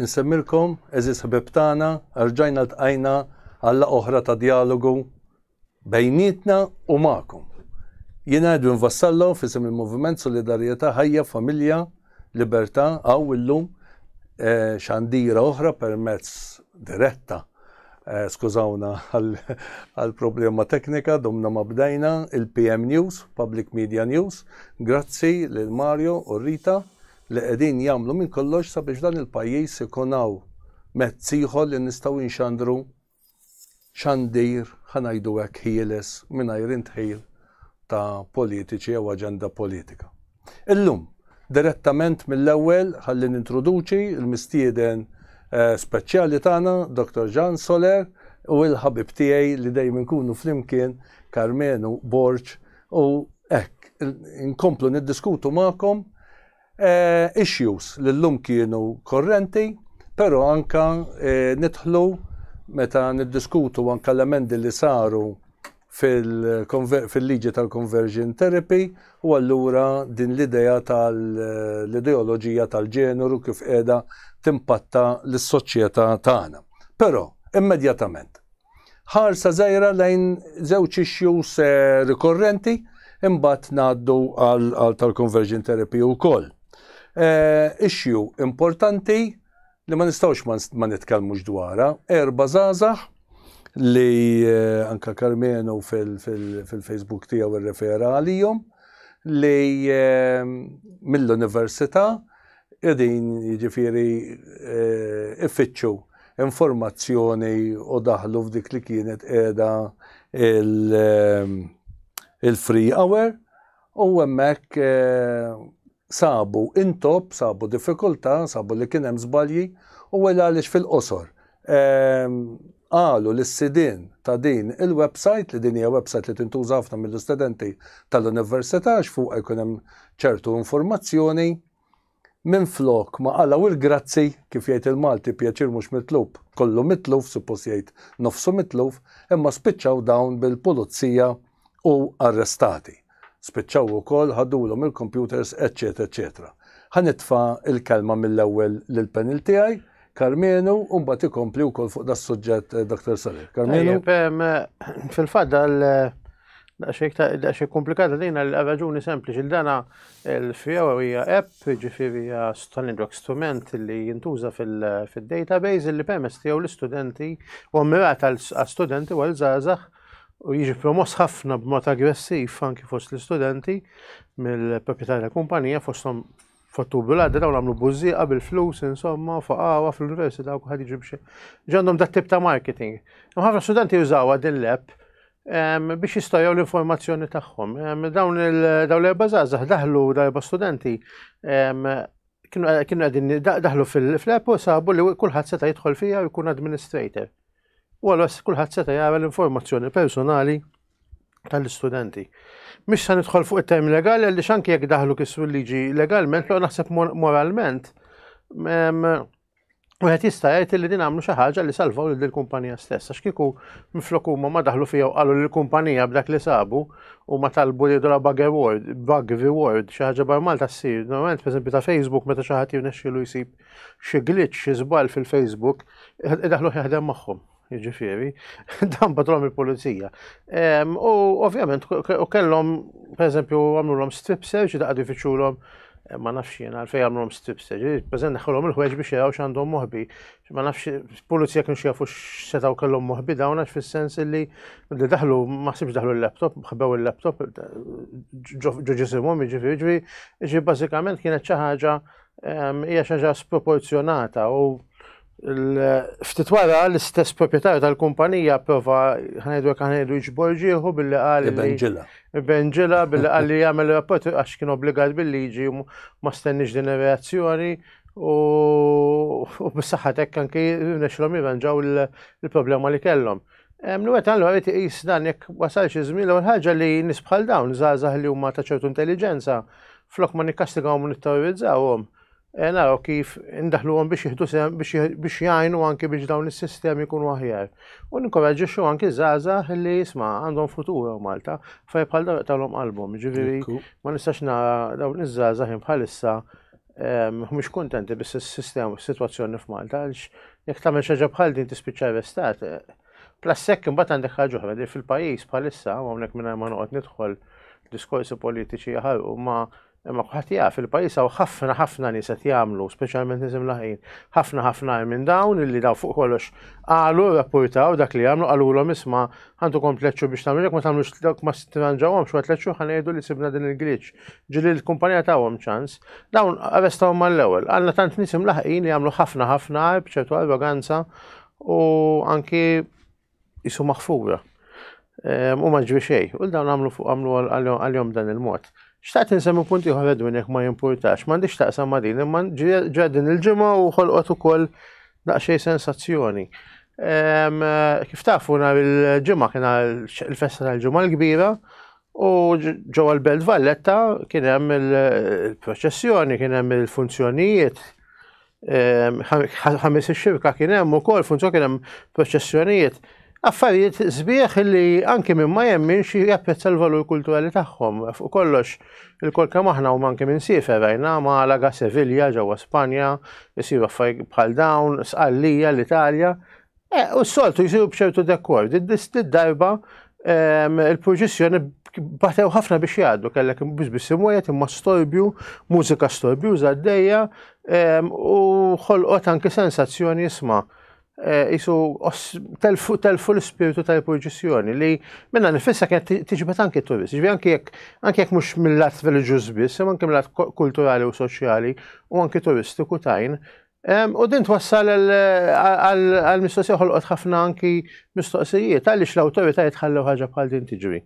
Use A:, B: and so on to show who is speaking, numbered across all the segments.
A: Insemmilkom, eżis ħbeb tagħna, rġajna ltqajna għalla oħra ta' dialogu bejnietna u magħkom. Jiena Edwin Vassallo fisem il-Moviment Solidarjetà Ħajja Familja Libertà għaw illum eh, xandira oħra permezz diretta Skużawna għal problema teknika, domna ma bdejna, il-PM News, Public Media News, grazzi lil Mario u Rita li qegħdin jagħmlu minn kollox sabiex dan il-pajjiż ikun hawn mezz ieħor li nistgħu nxandru xandir, ħa ngħidu hekk, ħieles mingħajr indħil ta' politiċi jew aġenda politika. Illum, direttament mill-ewwel, ħalli nintroduċi l-mistieden speċjali tagħna, Dottor Jean Soler u l-ħabib tiegħi li dejjem inkunu flimkien, Karmenu Borg, u hekk, inkomplu niddiskutu magħkom issues li llum kienu korrenti, però anke nidħlu meta niddiskutu anke l-emendi li saru fil-liġi tal-conversion therapy u allura din l-idea tal-ideoloġija tal-ġeneru kif qiegħda timpatta lis-soċjetà tagħna. Però, immedjatament, ħarsa żgħira lejn żewġ issues eh, rikorrenti imbagħad ngħaddu għal tal-conversion therapy wkoll. Eh, issue importanti li ma nistgħux ma nitkellmux dwarha, erba' żgħażagħ li anke Karmenu fil-Facebook tiegħu irrefera għalihom li mill-università qegħdin jiġifieri ifittxu informazzjoni u daħlu f'dik li kienet qiegħda il-free hour u hemmhekk sabu intopp, sabu diffikultà, sabu li kien hemm żbalji u wela għaliex fil-qosor qalu li s-sidien ta' din il-website li din hija website li tintuża ħafna mill-istudenti tal-università għax fuqha jkun hemm ċertu informazzjoni minflok ma qalaw il-grazzi kif jgħid il-Malti pjaċir mhux mitlub kollu mitluf suppost jgħid nofsu mitluf imma spiċċaw dawn bil-pulizija u arrestati. Spiċċaw ukoll ħadulhom il-kompjuters eċċetera eċċetera. Ħa nitfa' l-kelma mill-ewwel lill-panel tiegħi, Karmenu, u mbagħad ikompli wkoll fuq das-suġġett eh, Dr. Salir. Karmenu.
B: Fil-fatt dal daqxie komplikata dina l-raġuni sempliċi l-dana l-fjaw hija app, ġifiri hija tal-indrok strument li jintuża fil-database li permess tiegħu l-istudenti u mmirat għal-studenti u għal-żgħażagħ u jiġi promoss ħafna b'mod aggressiv anki fost l-istudenti mill-proprjetarja tal-kumpanija fosthom fottubu l-għadra u nagħmlu bużieqa bil-flus insomma faqawa fl-università u kulħadd jiġi biex ġandhom dat tip ta' marketing. Imma ħafna studenti jużawha din l-app ehm, biex jistajgħu l-informazzjoni tagħhom. Ehm, dawn l-erba' żgħażagħ daħlu darba studenti ehm, kienu għedin daħlu fil-app u sabu li kulħadd seta' jidħol fija u jkun administrator. u allura kulħadd seta' jara l-informazzjoni personali tal-istudenti. Mhix se nidħol fuq it-term legali għaliex anke jekk daħlu kisru l-liġi legalment, lo naħseb moralment U għet jista jgħid li din għamlu xi ħaġa li salvaw lil din kumpanija stessa. X'kieku minflok huma ma daħlu fija u qalu l kumpanija b'dak li sabu u ma talbu li dola bug reward, bug reward, xi ħaġa bar Malta ssir. Normalment pereżempju ta' Facebook meta xi ħadd jirnexxielu jsib xi glitch, xi żball fil-Facebook, idaħlu jaħdem magħhom. Jiġifieri, dan batlhom il-pulizija. U ovvjament, u kellhom, pereżempju, għamlulhom strip search, daqgħadu jfittxulhom eh, ma nafx jien għalfej għamlhom strip search, eh, pereżent neħħulhom il-ħweġ biex jaraw x'għandhom moħbi. Ma nafx pulizija kienu xjafu x'setgħu kellhom moħbi dawn għax fis-sens li li daħlu ma ħsibx daħlu l-laptop, ħbew il-laptop ġo ġisimhom, jiġifieri, jiġifieri, jiġifieri bażikament kienet xi ħaġa hija xi ħaġa sproporzjonata u ftit wara l-istess proprjetarju tal-kumpanija prova ħanejdu jekk ħanejdu jġbor ġieħu billi qal Benġila. Benġila billi qal li jagħmel rapport għax kien obbligat bil-liġi ma stenniex din ir-reazzjoni u bis-saħħa hekk anki nexlhom jirranġaw il-problema li kellhom. Nwet għallu għarit iqis dan jekk wasal xi żmien l ħaġa li nis bħal dawn żgħażagħ li huma ta' ċertu intelligenza flok ma nikkastigawhom u nitterrorizzawhom eh, naraw kif indaħluhom biex jieħdu sem biex jgħinu anki biex dawn is-sistemi jkunu aħjar. U ninkoraġġixxu anki żgħażagħ li jisma' għandhom futur Malta fej bħal dawn qalbhom. Ġifieri ma nistax nara dawn iż-żgħażagħ bħalissa mhumiex kuntenti bis-sistema s-sitwazzjoni f'Malta għaliex jekk tagħmel xi ħaġa bħal din tispiċċa arrestat. Plus hekk imbagħad għandek ħaġa oħra li fil-pajjiż bħalissa hawnhekk mingħajr ma noqgħod nidħol diskorsi politiċi jaħarqu ma imma ħadd jaf il-pajjiż hawn ħafna ħafna nies qed jagħmlu, speċjalment nies imlaħin, ħafna ħafna minn dawn illi daw fuq kollox qalu rapportaw dak li jagħmlu qalulhom isma' Għandu kom tleċċu biex tagħmel jekk ma tagħmlux dawk ma stranġawhom xogħol tleċċu ħa ngħidu li sibna din il-glitch. Ġili l-kumpanija tagħhom ċans. Dawn arrestawhom mal-ewwel. Għandna tant nies imlaħqin li jagħmlu ħafna ħafna għarb ċertu arroganza u anki jisu maħfura. Ehm, u ma ġri xejn. U dawn għamlu fuq għamlu għal-jom dan il-mod. Xtaqt nsemmi punti ieħor Edwin jekk ma jimpurtax, m'għandix taqsam ma' din, imma ġra din il-ġimgħa u ħolqot ukoll Daqsxejn sensazzjoni. Kif tafu nhar il-ġimgħa kien il-festa tal-ġimgħa l-kbira u ġewwa l-Belt Valletta kien hemm il-proċessjoni, kien hemm il-funzjonijiet. Ħames ix-xirka kien hemm ukoll funzjoni kien hemm proċessjonijiet. Affarijiet sbieħ li anki minn ma jemminx japprezza l-valur kulturali tagħhom. Fuq kollox, il-kol kemm aħna u manki minn siefer rajna Malaga, Sevilla, ġewwa Spanja, isiru affarijiet bħal dawn, Sqallija, l-Italja. E, u s-soltu jsiru b'ċertu dekor. Did-darba il-proġissjoni batew ħafna biex jgħaddu, kellek biex biss imwejt imma storbju, mużika storbju għaddejja u ħolqot anki sensazzjoni jisma' Eh, jisu telfu l-spiritu ta' purġissjoni li minna nifissa kien tiġbet anki turist, ġvi anki jek anki jek mux mill-lat reliġjuż biss, imma anki mill-lat kulturali u soċjali u anki turistiku tajn. U din twassal għal-mistoqsija ħolqot ħafna anki mistoqsijiet, għaliex l-autorita jitħallu ħaġa bħal din tiġri.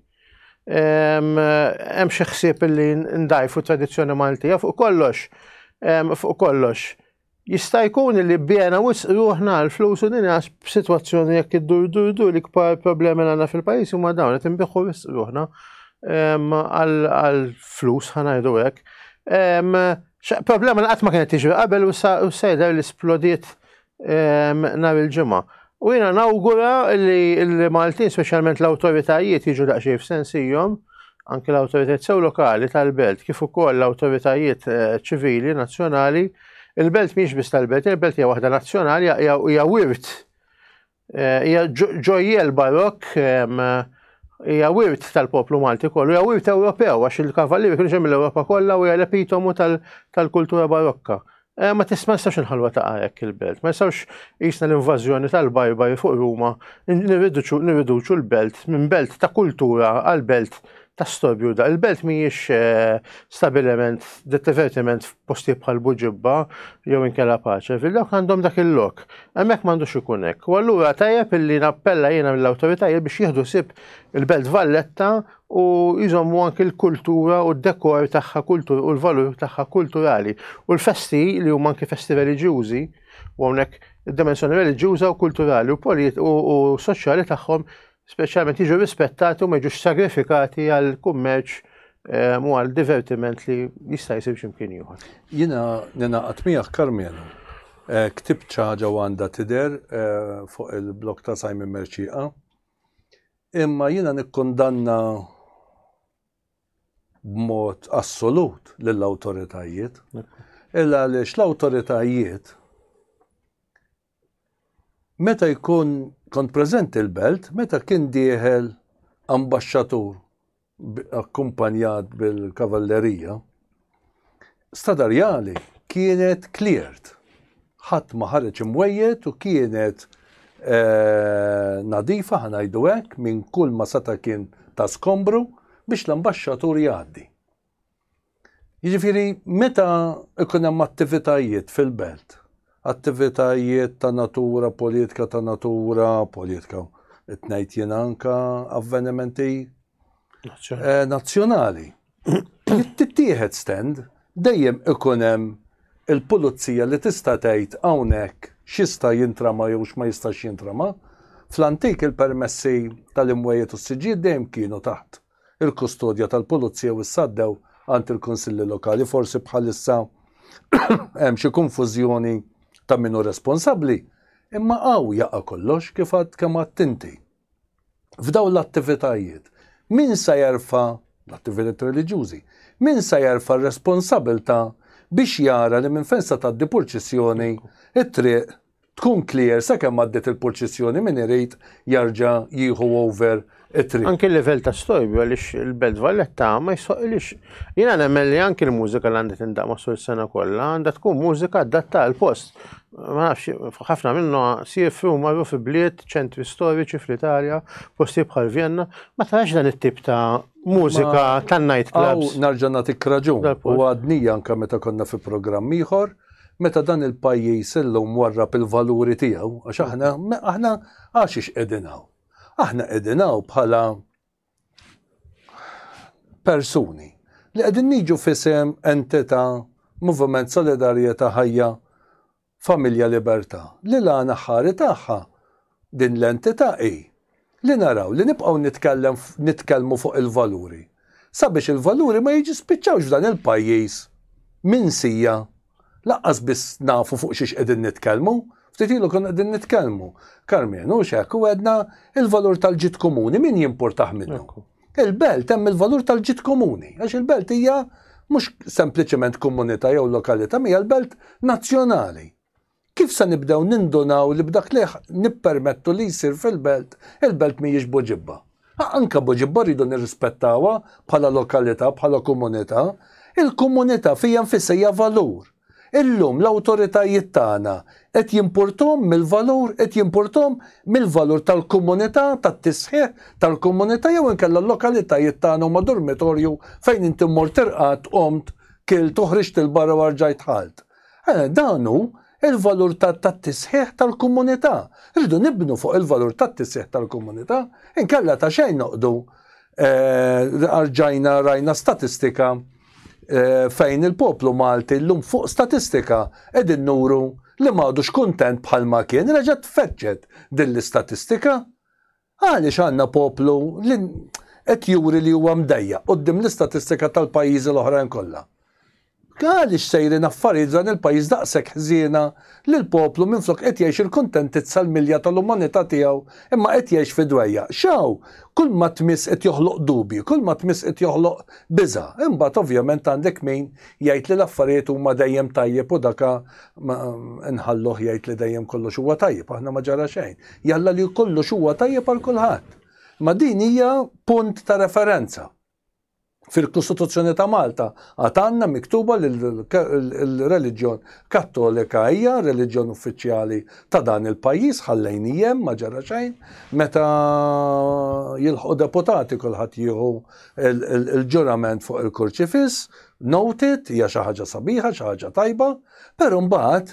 B: Hemm xi ħsieb li ndajfu tradizzjoni Maltija fuq kollox, fuq kollox Jista' jkun li bbiegħna wisq ruħna għal flus u din b'sitwazzjoni jekk iddur dur dur l-ikbar problemi li għandna fil-pajjiż huma dawn qed inbiħħu wisq ruħna ehm, għal flus ħanajdu hekk. Ehm, problema li qatt ma kienet tiġri qabel u sejder li splodiet ehm, nhar il-ġimgħa. U jiena nawgura li l-Maltin, speċjalment l-awtoritajiet jiġu daqsxejn f'sensihom, anke l-awtoritajiet sew lokali tal-belt kif ukoll l-awtoritajiet eh, ċivili nazzjonali, il-belt mhix biss tal-belt, il-belt hija waħda nazzjonali, hija wirt, eh, hija ġojjel barok, hija wirt tal-poplu Malti kollu, hija wirt Ewropew, għax il-kavallieri kienu ġejjin mill-Ewropa kollha u hija l-epitomu tal-kultura barokka. Eh, ma tisma nistax nħalwa ta' hekk il-belt, ma jistawx jisna l-invażjoni tal-bajbaj fuq Ruma, nirriduċu l-belt minn belt ta' kultura għal belt ta' storbju da. Il-belt mhijiex eh, stabilment divertiment f'posti bħal buġibba jew inkella paċe, fil-lok għandhom dak il-lok. Hemmhekk m'għandux ikun hekk. U allura tajjeb illi nappella jiena mill-awtoritajiet biex jieħdu sib il-belt Valletta u jżommu anki l-kultura u d-dekor tagħha kultur u l-valur tagħha kulturali. U l-festi li huma anki festi reliġjużi, u hawnhekk id-dimensjoni reliġjuża u kulturali u polit u, u soċjali tagħhom speċjalment jiġu rispettati u ma jiġux sagrifikati għal kummerċ ehm, u għal divertiment li jista' jsir x'imkien ieħor. Jiena
A: ninaqat miegħek Karmenu. Eh, ktib ċaġa għandha tidher eh, fuq il-blok ta' Simon Merċiqa Imma jiena nikkundanna b'mod assolut lill-awtoritajiet, illa għaliex l-awtoritajiet meta jkun kont preżenti l-belt, meta kien dieħel ambaxxatur akkumpanjat bil-kavallerija, Stadar Jali kienet cleared. Ħadd ma ħareġ imwejjed u kienet eh, nadifa ħanajdu hekk minn kull ma seta' kien ta' skombru biex l-ambaxxatur jgħaddi. Jiġifieri meta jkun hemm attivitajiet fil-belt, attivitajiet ta' natura politika, ta' natura politika, qed ngħid jien anka avvenimenti eh, nazzjonali. Tittieħed stand dejjem ikun hemm il-pulizija li tista' tgħid hawnhekk x'jista' jintrama jew x'ma jistax jintrama. Fl-antik il-permessi tal-imwejjed u s-siġġiet dejjem kienu taħt il-kustodja tal-pulizija u issa għaddew għand il-kunsilli lokali. Forsi bħalissa hemm xi konfużjoni ta' min hu responsabbli, imma hawn jaqa' kollox kif għad kemm għadt inti. F'dawn l-attivitajiet, min sa jerfa' l-attivitajiet reliġjużi, min sa jerfa' r-responsabilità biex jara li minn fejn sa tgħaddi purċissjoni it-triq tkun clear sakemm għaddiet il-purċissjoni min irid jerġa' jieħu over it-triq. Anki l-livell ta' stojbju
B: għaliex il-Belt Valletta ma jsoqilix. Jiena nemmen li anki l-mużika li għandha tindaq masul is-sena kollha għandha tkun mużika adatta għal post. Ma nafx, ħafna minnu siefri u marru fi bliet, ċentri storiċi fl-Italja, posti bħal Vienna, ma tarax dan it-tip ta' mużika tan night clubs. Narġa' nagħtik raġun.
A: U għadnija anke meta konna fi programm ieħor, Meta dan il-pajjiż illum warrab il-valuri tiegħu, għax aħna, aħna għaxiex qegħdin hawn? Aħna qegħdin hawn bħala persuni li qegħdin niġu fisem entità Moviment Solidarjetà Ħajja Familja Libertà li l-għana ħari tagħha Din l-entità hi li naraw li nibqgħu nitkellem nitkellmu fuq il-valuri sabiex il-valuri ma jiġispiċċawx f'dan il-pajjiż minsija lanqas biss nafu fuq xiex qegħdin nitkellmu. Ftit ilu konna qegħdin nitkellmu, Karmien, hux hekk, u għedna il-valur tal-ġid komuni min jimpurtah minnu. Il-belt hemm il-valur tal-ġid komuni, għax il-belt hija mhux sempliċement komunità jew lokalità, hija l-belt nazzjonali. Kif se nibdew nindunaw li b'dak li nippermettu li jsir fil-belt, il-belt mhijiex Buġibba? Anke Buġibba rridu nirrispettawha bħala lokalità, bħala komunità. Il-komunità fija nfisha hija valur. Illum l-awtoritajiet tagħna qed jimpurthom mill-valur, qed jimpurthom mill-valur tal-komunità, tat-tisħiħ tal-komunità jew inkella l-lokalitajiet tagħna huma dormitorju fejn inti mmort irqadt, qomt, kilt u ħriġt 'il barra u rġajt dħalt. Eh, dan hu il-valur tat-tisħiħ tal-komunità. Rridu nibnu fuq il-valur tat-tisħiħ tal-komunità, inkella ta' xejn noqdu eh, arġajna rajna statistika eh, fejn il-poplu Malti l-lum fuq statistika edin nuru li maħdux kuntent bħalma kien, reġet feċċet din l-istatistika. Għaliex għandna poplu li qed juri li huwa mdejjaq quddiem l-istatistika tal-pajjiżi l-oħrajn kollha? Għaliex sejrin affarijiet f'dan il-pajjiż daqshekk ħżiena li l-poplu minflok qed jgħix il-kuntentizza l-milja tal-umanità tiegħu imma qed jgħix fi dwejjaq? X'hawn? Kulma tmiss qed joħloq dubji, kulma tmiss qed joħloq biża'. Imbagħad ovvjament għandek min jgħid li l-affarijiet huma dejjem tajjeb u daka nħalluh jgħid li dejjem kollox huwa tajjeb, aħna ma ġara xejn. Jalla li kollox huwa tajjeb għal kulħadd. Imma din hija punt ta' referenza. Fil-Kostituzzjoni ta' Malta għad għandna miktuba li l-reliġjon Kattolika hija reliġjon uffiċjali ta' dan il-pajjiż ħallejn hemm ma ġara xejn meta jilħqu deputati kulħadd jieħu l-ġurament fuq il-kurċifiss noted hija xi ħaġa sabiħa xi ħaġa tajba però mbagħad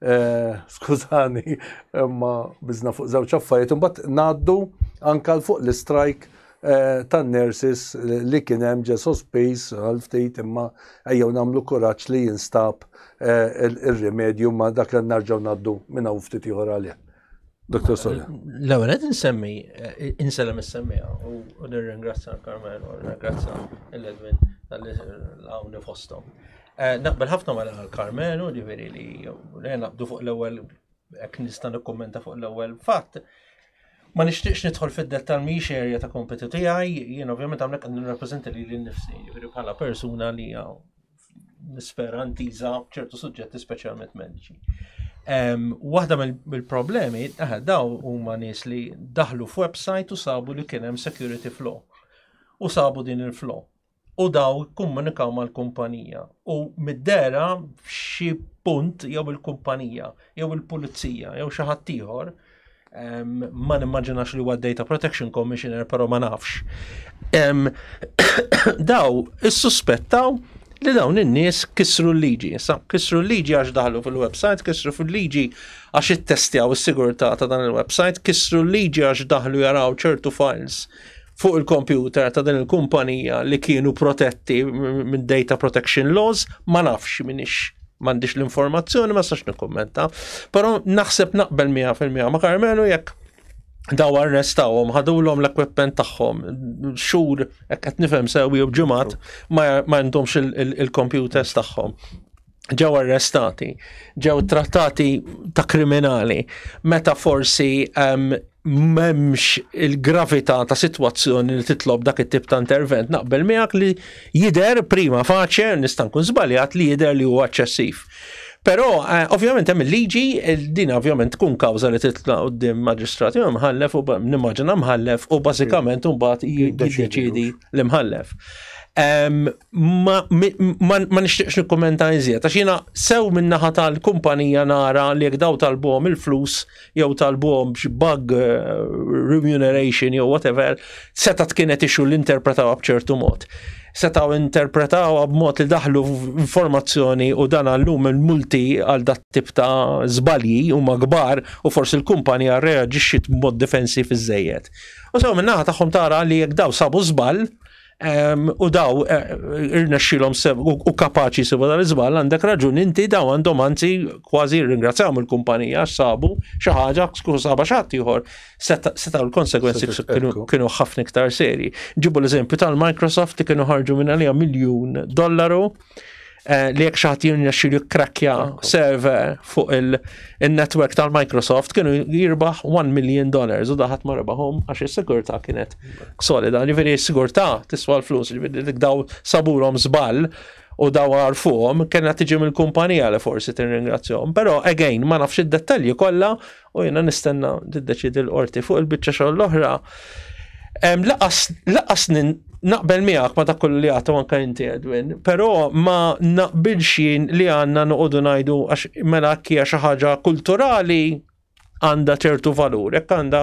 A: Eh, skużani, imma bizna fuq żewġ affarijiet, imbagħad ngħaddu anka fuq l-strike eh, tan-nurses li kien hemm ġe sospiż għal ftit imma ejjew nagħmlu kuraġġ li jinstab eh, ir-rimedju ma dak li narġgħu ngħaddu minn hawn ftit ieħor għalih. Dr. Sola. L-ewwel qed insemmi
C: eh, insellem is-semmija u nirringrazzja l-Karmen u nirringrazzja l-Edwin tal-li hawn fosthom. Eh, naqbel ħafna ma l Karmen u ġifieri li naqbdu fuq l-ewwel hekk nista' nikkummenta fuq l-ewwel fatt. Ma nixtieqx nidħol fid-dettal mhix erja ta' kompetu tiegħi, jien ovvjament hawnhekk qed nirrappreżenta li lil nifsi, ġifieri bħala persuna li nispera ntiża ċertu suġġetti speċjalment mediċi. Waħda mill-problemi, eh, daw huma nies li daħlu f'website u sabu li kien hemm security flow. U sabu din il-flow. U daw komunikaw mal-kumpanija. U mid-dera xi punt jew il-kumpanija, jew il-pulizija, jew xi ħadd ieħor ma nimmaġinax li huwa Data Protection Commissioner, però ma nafx. daw issuspettaw li dawn in-nies kisru l-liġi. Issa kisru l-liġi għax daħlu fil-website, kisru fil-liġi għax ittestjaw is-sigurtà ta' dan il-website, kisru l-liġi għax daħlu jaraw ċertu files fuq il-kompjuter ta' din il-kumpanija li kienu protetti minn data protection laws, ma nafx minix m'għandix l-informazzjoni ma sax nikkummenta. Però naħseb naqbel 100% ma' Karmenu jekk daw arrestawhom, ħadulhom l-equipment tagħhom, xhur qed nifhem sewi u ġimgħat ma għandhomx il-computers tagħhom. ġew arrestati, ġew trattati ta' kriminali, meta forsi um, memx il-gravità ta' situazzjoni li titlob dak it-tip ta' intervent naqbel miegħek li jider prima faċe nista' nkun żbaljat li jider li huwa eċċessiv. Però eh, ovvjament hemm il-liġi din ovvjament tkun kawża li titla' qudiem maġistrati u mħallef u nimmaġina mħallef u bażikament imbagħad jiddeċidi l-imħallef. Ma, ma, ma nixtieqx nikkumenta iżjed, għax jiena sew min-naħa tal-kumpanija nara li jekk daw talbuhom il-flus jew talbuhom b'xi bug eh, remuneration jew whatever, seta' tkienet ixu l-interpretaw b'ċertu mod. Setaw interpretaw b'mod li daħlu informazzjoni u dan għallum il-multi għal dat tip ta' żbalji huma kbar u forsi l-kumpanija reaġixxiet b'mod difensiv iżejjed. U sew min-naħa tagħhom tara li jekk daw sabu żball, U daw irnexxilhom u kapaċi sibu dan iżbal għandek raġun inti daw għandhom anzi kważi ringrazzjahom il-kumpanija sabu xi ħaġa saba xatt ieħor setgħu l-konsegwenzi kienu ħafna iktar serji. Ġibu l-eżempju tal-Microsoft li kienu ħarġu minn għalija miljun dollaru Eh, li jek xaħat jirnexxi li krakkja server fuq il-network tal-Microsoft kienu jirbaħ 1 million dollars u daħat ma rebaħom għax il-sigurta kienet solida. Ġifiri il-sigurta tiswa l-flus, ġifiri dik daw saburom zbal u daw għarfuhom kena tiġi mill-kumpanija li forsi tirringrazzjom. Pero again, ma nafx id-dettalji kollha u jiena nistenna tiddeċidi l-qorti fuq il-biċċa xogħol l-oħra. Laqas naqbel miegħek ma dak kollu li għatu anke inti Edwin, però ma naqbilx jien li għandna noqogħdu ngħidu għax mela hija xi ħaġa kulturali għandha ċertu valur, jekk għandha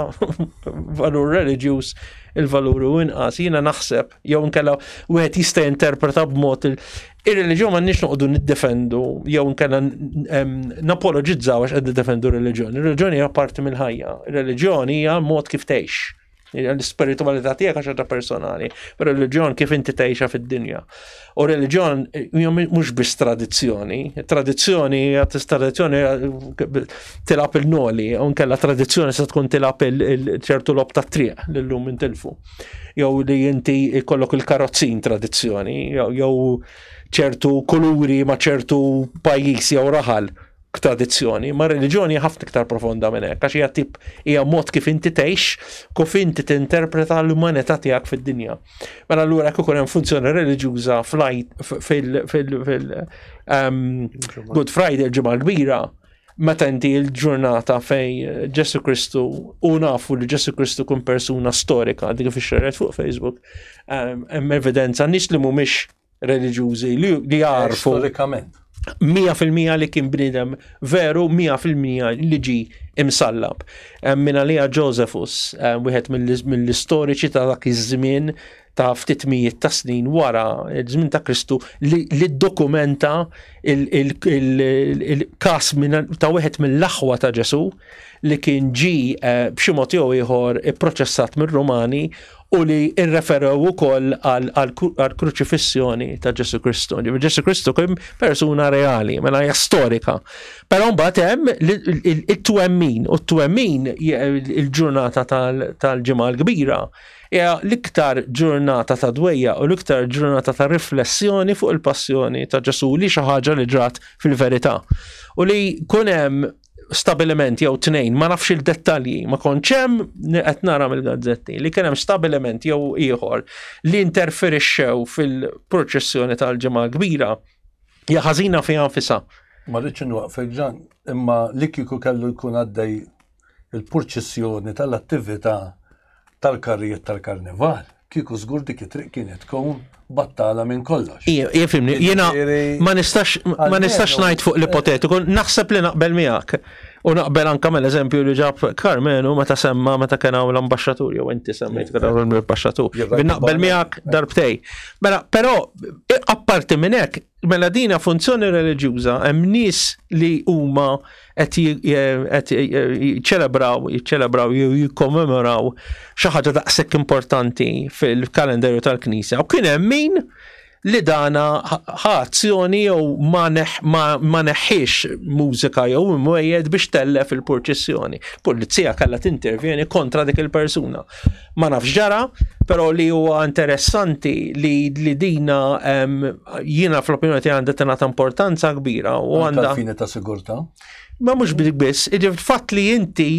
C: valur reliġjuż il-valur u inqas, jiena naħseb, jew nkella wieħed jista' interpreta b'mod Ir-reliġjon m'għandniex noqogħdu niddefendu jew nkella napoloġizzaw għax qed niddefendu r-reliġjon. Ir-reliġjon hija parti mill-ħajja. Ir-reliġjon hija mod kif tgħix. L-spiritualità tiegħek għax ħaġa personali. Ir-reliġjon kif inti tgħixha fid-dinja. U reliġjon hija mhux biss tradizzjoni. Tradizzjoni hija tradizzjoni tilab il-noli, u nkella tradizzjoni se tkun tilab il-ċertu lob tat-triq lil lum intilfu. jew li inti jkollok il-karozzin tradizzjoni, jew ċertu kuluri ma ċertu pajjiż jew raħal tradizzjoni, ma reliġjoni ħafna iktar profonda minn hekk, għax hija tip hija mod kif inti tgħix, kif inti tinterpreta l-umanità tiegħek fid-dinja. Mela allura jekk ikun hemm funzjoni reliġjuża fil-Good ehm, Friday l-ġimgħa kbira, meta inti il-ġurnata fej eh, Ġesu Kristu u nafu li Ġesu Kristu kun persuna storika dik fi xerret fuq Facebook, ehm, hemm evidenza nis li mhumiex reliġjużi li jarfu. Storikament.
A: 100%
C: li kien bnidem veru, 100% li ġi imsallab. Ehm, Minna li Josephus, ehm, wieħed mill-istoriċi ta' dak iż-żmien, ta' ftit mijiet ta' snin wara żmien ta' Kristu li dokumenta il-kas ta' wieħed mill-aħwa ta' Ġesu li kien ġi eh, b'xi mod jew ieħor ipproċessat mir-Rumani u li irreferew ukoll għal kruċifissjoni ta' Ġesu Kristu. Ġesu Kristu kien persuna reali, mela hija storika. Però mbagħad hemm it-twemmin u t-twemmin il-ġurnata tal-ġimgħa l-kbira Hija l-iktar ġurnata ta' dwejjaq u l-iktar ġurnata ta' riflessjoni fuq il-passjoni ta' Ġesù li hi xi ħaġa li ġrat fil-verità. U li jkun hemm stabiliment jew tnejn, ma nafx il-dettalji, ma kontx hemm qed nara mill-gazzetti li kien hemm stabiliment jew ieħor li interferixxew fil-proċessjoni tal-Ġimgħa Kbira. Hija ħażina fiha nfisha. Ma rridx inwaqfek
A: Ġan, imma li kieku kellu jkun għaddej il-purċissjoni tal-attività tal-karrijiet tal-karnival, kieku żgur dik it-triq kienet tkun battala minn kollox. Jifimni, jiena
C: ma nistax ma nistax ngħid fuq l-ipotetiku, naħseb li naqbel miegħek. U naqbel anke mill-eżempju li ġab Karmenu meta semma meta kien hawn l-ambaxxatur jew inti semmejt kien hawn l-ambaxxatur. Naqbel miegħek darbtej. Mela, però apparti minn hekk Mela dina funzjoni reliġjuża hemm nies li huma qed jiċċelebraw, jiċċelebraw jew jikkommemoraw xi ħaġa daqshekk importanti fil-kalendarju tal-Knisja. U kien hemm min li dana ħa azzjoni jew ma neħħiex mużika jew imwejjed biex tellef il-purċissjoni. Pulizija kellha tintervjeni kontra dik il-persuna. ma nafx ġara, pero li huwa interessanti li li dina jiena fl-opinjoni tiegħi għandha tingħata importanza kbira u għandha. fini ta' sigurtà.
A: Ma mhux bidik
C: biss, fatt li inti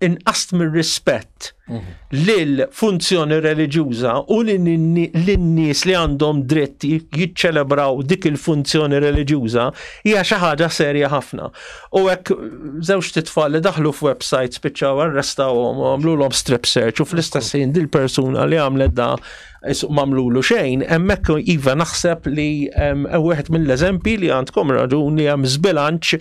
C: inqast mir-rispett mhm. lil funzjoni reliġjuża u lin-nies li għandhom dritt jiċċelebraw dik il-funzjoni reliġjuża hija xi ħaġa serja ħafna. U hekk żewġ titfal li daħlu f'website spiċċaw arrestawhom u għamlulhom strip search u fl-istess ħin dil-persuna li għamlet da mamlulu xejn, hemmhekk iva naħseb li wieħed mill-eżempji li għandkom raġun li hemm żbilanċ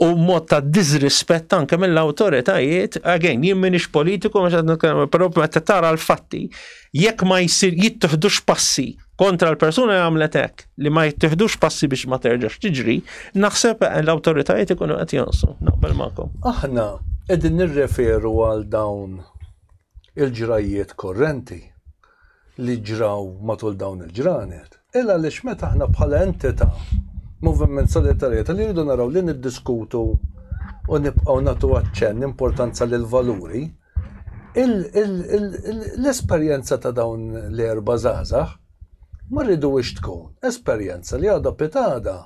C: u mod ta' disrispett anke mill-awtoritajiet, again, jien minix politiku, mhux qed nitkellem, però meta tara l-fatti, Jekk ma jsir jittiħdux passi kontra l-persuna li għamlet hekk, li ma jittiħdux passi biex ma terġax tiġri, naħseb l-awtoritajiet ikunu qed jonsu, naqbel magħkom. Aħna
A: qegħdin nirreferu għal dawn il-ġrajjiet korrenti li ġraw matul dawn il-ġranet. Il għaliex meta aħna bħala entità Moviment Solidarjetà li rridu naraw li niddiskutu u nibqgħu nagħtu aċċenn importanza lil valuri L-esperjenza ta' dawn l-erba' żgħażagħ ma rriduhiex tkun esperjenza li għada pitgħada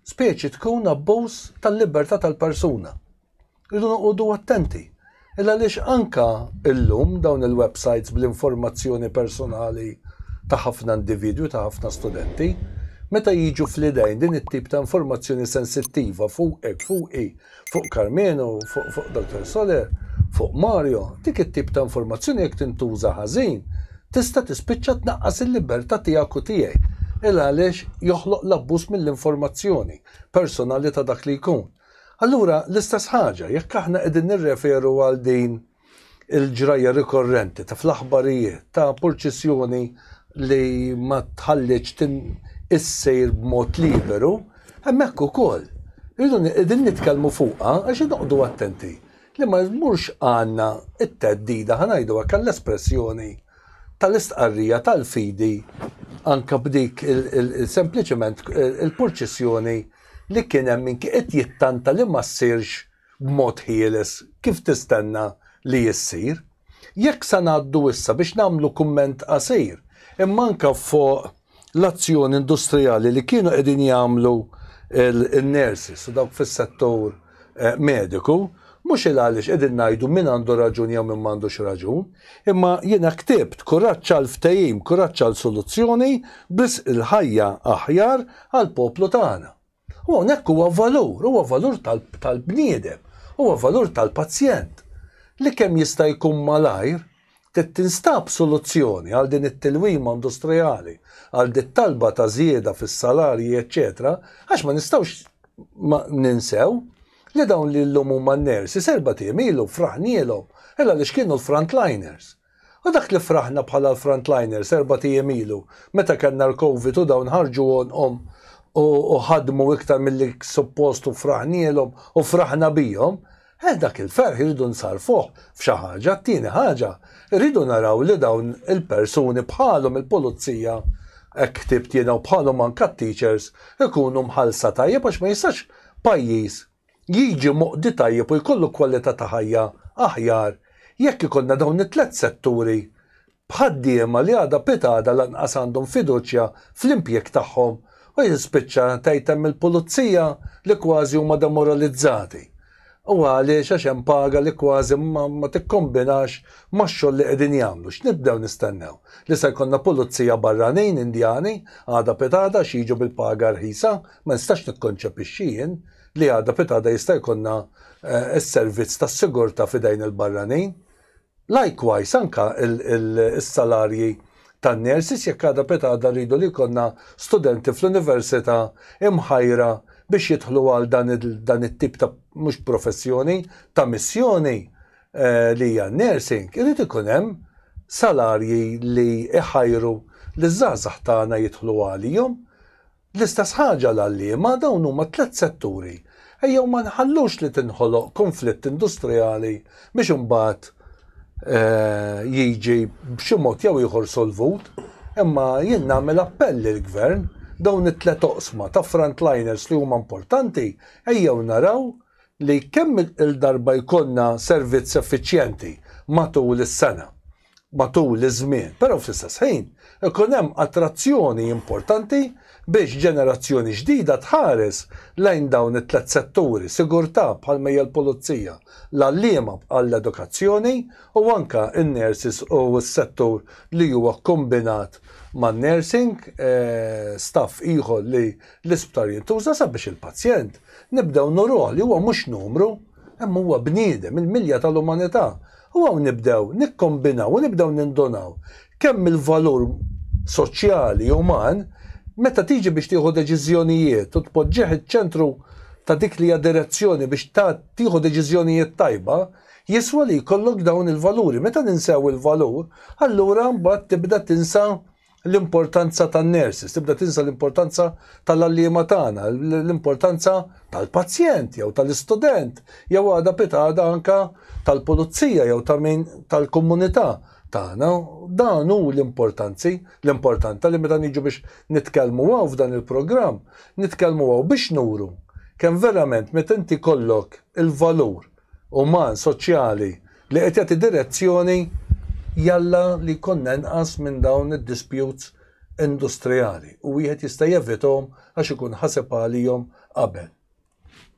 A: speċi tkun abbuż tal-libertà tal-persuna. Irridu noqogħdu attenti. Ilgħaliex anke llum dawn il-websajts bl-informazzjoni personali ta' ħafna individwi, ta' ħafna studenti, meta jiġu fl-idejn din it-tip ta' informazzjoni sensittiva fuqek, fuqi, Fuq Karmenu, fuq Doctor Soler, fuq Mario, dik it-tip ta' informazzjoni jekk tintuża ħażin, tista' tispiċċa tnaqqas il-libertà tiegħek u tiegħi. Il għaliex joħloq l-abbuż mill-informazzjoni personali ta' dak li jkun. Allura, l-istess ħaġa, jekk aħna qegħdin nirreferu għal din, il-ġrajja rikorrenti ta' fl-aħbarijiet ta' purċissjoni li ma tħalliċ tin issir b'mod liberu, hemmhekk ukoll irridu qegħdin nitkellmu fuqha għax inqogħdu attenti li ma jmurx għandna t-theddida, ħa ngħidu hekk għall-espressjoni, tal-istqarrija tal-fidi anke b'dik sempliċement il-purċissjoni li kien hemm min qed jittanta li ma ssirx b'mod ħieles kif tistenna li issir. Jekk sa ngħaddu issa biex nagħmlu kumment qasir, imma anke fuq l-azzjoni industrijali li kienu qegħdin jagħmlu n-nurses u dawk fis-settur mediku, mhux il għaliex qegħdin ngħidu min għandu raġun jew min m'għandux raġun, imma jiena ktibt kuraġġ għal ftehim, kuraġġ għal soluzzjoni, b'risq il-ħajja aħjar għall-poplu tagħna. U hawnhekk huwa valur, huwa valur tal-bniedem, huwa valur tal-pazjent li kemm jista' jkun malajr trid tinstab soluzzjoni għal din it-tilwima industrijali, għal dit-talba ta' żieda fis-salarji eċċetera għax ma nistgħux ninsew li dawn li llum huma n-nurses erbat ijiem ilu fraħnielhom għaliex kienu l-frontliners. U dak li fraħna bħala l-frontliners erbat ijiem ilu, meta kellna l-Covid u dawn ħarġu għonqhom u ħadmu iktar milli suppost u fraħnielhom u fraħna bihom, eh dak il-ferħ irridu nsarrfuh f'xi ħaġa, t-tieni ħaġa, irridu naraw li dawn il-persuni bħalhom il-pulizija, hekk ktibt jiena u bħalhom anka t-teachers, ikunu mħallsa tajjeb għax ma jistax pajjiż, jiġi moqdi tajjeb u jkollu kwalità ta' ħajja aħjar jekk ikollna dawn it-tliet setturi b'ħaddiema li għada pitgħada lanqas għandhom fiduċja fl-impjieg tagħhom u jispiċċa tgħid hemm il-pulizija li kważi huma demoralizzati u għaliex għax hemm paga li kważi ma tikkombinax max-xogħol li qegħdin jagħmlu x'nibdew nistennew li se jkollna pulizija barranin Indjani għada pitgħada għax jiġu bil-paga rħisa Ma nistax nikkonċepixxi jien li għada pitgħada jista' jkollna s-servizz tas-sigurtà f'idejn il-barranin. Likewise anke s-salarji tan-nurses jekk għada pitgħada rridu li jkollna studenti fl-università imħajra biex jidħlu għal dan it-tip ta' mhux professjoni, ta' missjoni li hija n-nursing, irid ikun hemm salarji li jħajru liż-żgħażagħ tagħna jidħlu għalihom. L-istess ħaġa għall-għalliema, dawn huma tliet setturi. Ejjew ma nħallux li tinħoloq kunflitt industrijali biex imbagħad jiġi b'xi mod jew ieħor solvut, imma jien nagħmel appell lill-Gvern, dawn it-tliet oqsma ta' frontliners li huma importanti, ejjew naraw li kemm-il darba jkollna servizz effiċjenti matul is-sena. matul iż-żmien, però fl-istess ħin ikun hemm attrazzjoni importanti biex ġenerazzjoni ġdida tħares lejn dawn it-tliet setturi, sigurtà bħalma hija l-pulizija, l-għalliema bħall-edukazzjoni u anke n-nurses u s-settur li huwa kkombinat man-nursing, staff ieħor li l-isptar jintuża sabiex il-pazjent nibdew nuruh li huwa mhux numru, imma huwa bniedem, il-milja tal-umanità. U hawn nibdew nikkombinaw u nibdew nindunaw kemm il-valur soċjali, uman, meta tiġi biex tieħu deċiżjonijiet u tpoġġih iċ-ċentru ta' dik li hija direzzjoni biex tieħu deċiżjonijiet tajba, jiswa li jkollok dawn il-valuri. Meta ninsew il-valur, allura mbagħad tibda tinsa l-importanza tan-nurses, tibda tinsa l-importanza tal-għalliema tagħna, l-importanza tal-pazjent jew tal-istudent, jew għada pitgħada anka tal-pulizija jew ta' min tal-komunità tagħna. Dan hu l-importanzi, l-importanta li meta niġu biex nitkellmu hawn f'dan il-programm, nitkellmu hawn biex nuru kemm verament meta inti kollok il-valur uman, soċjali, li qed jagħti direzzjoni jalla li jkollna inqas minn dawn id-disputes industrijali u wieħed jista' jevithom għax ikun ħaseb għalihom qabel.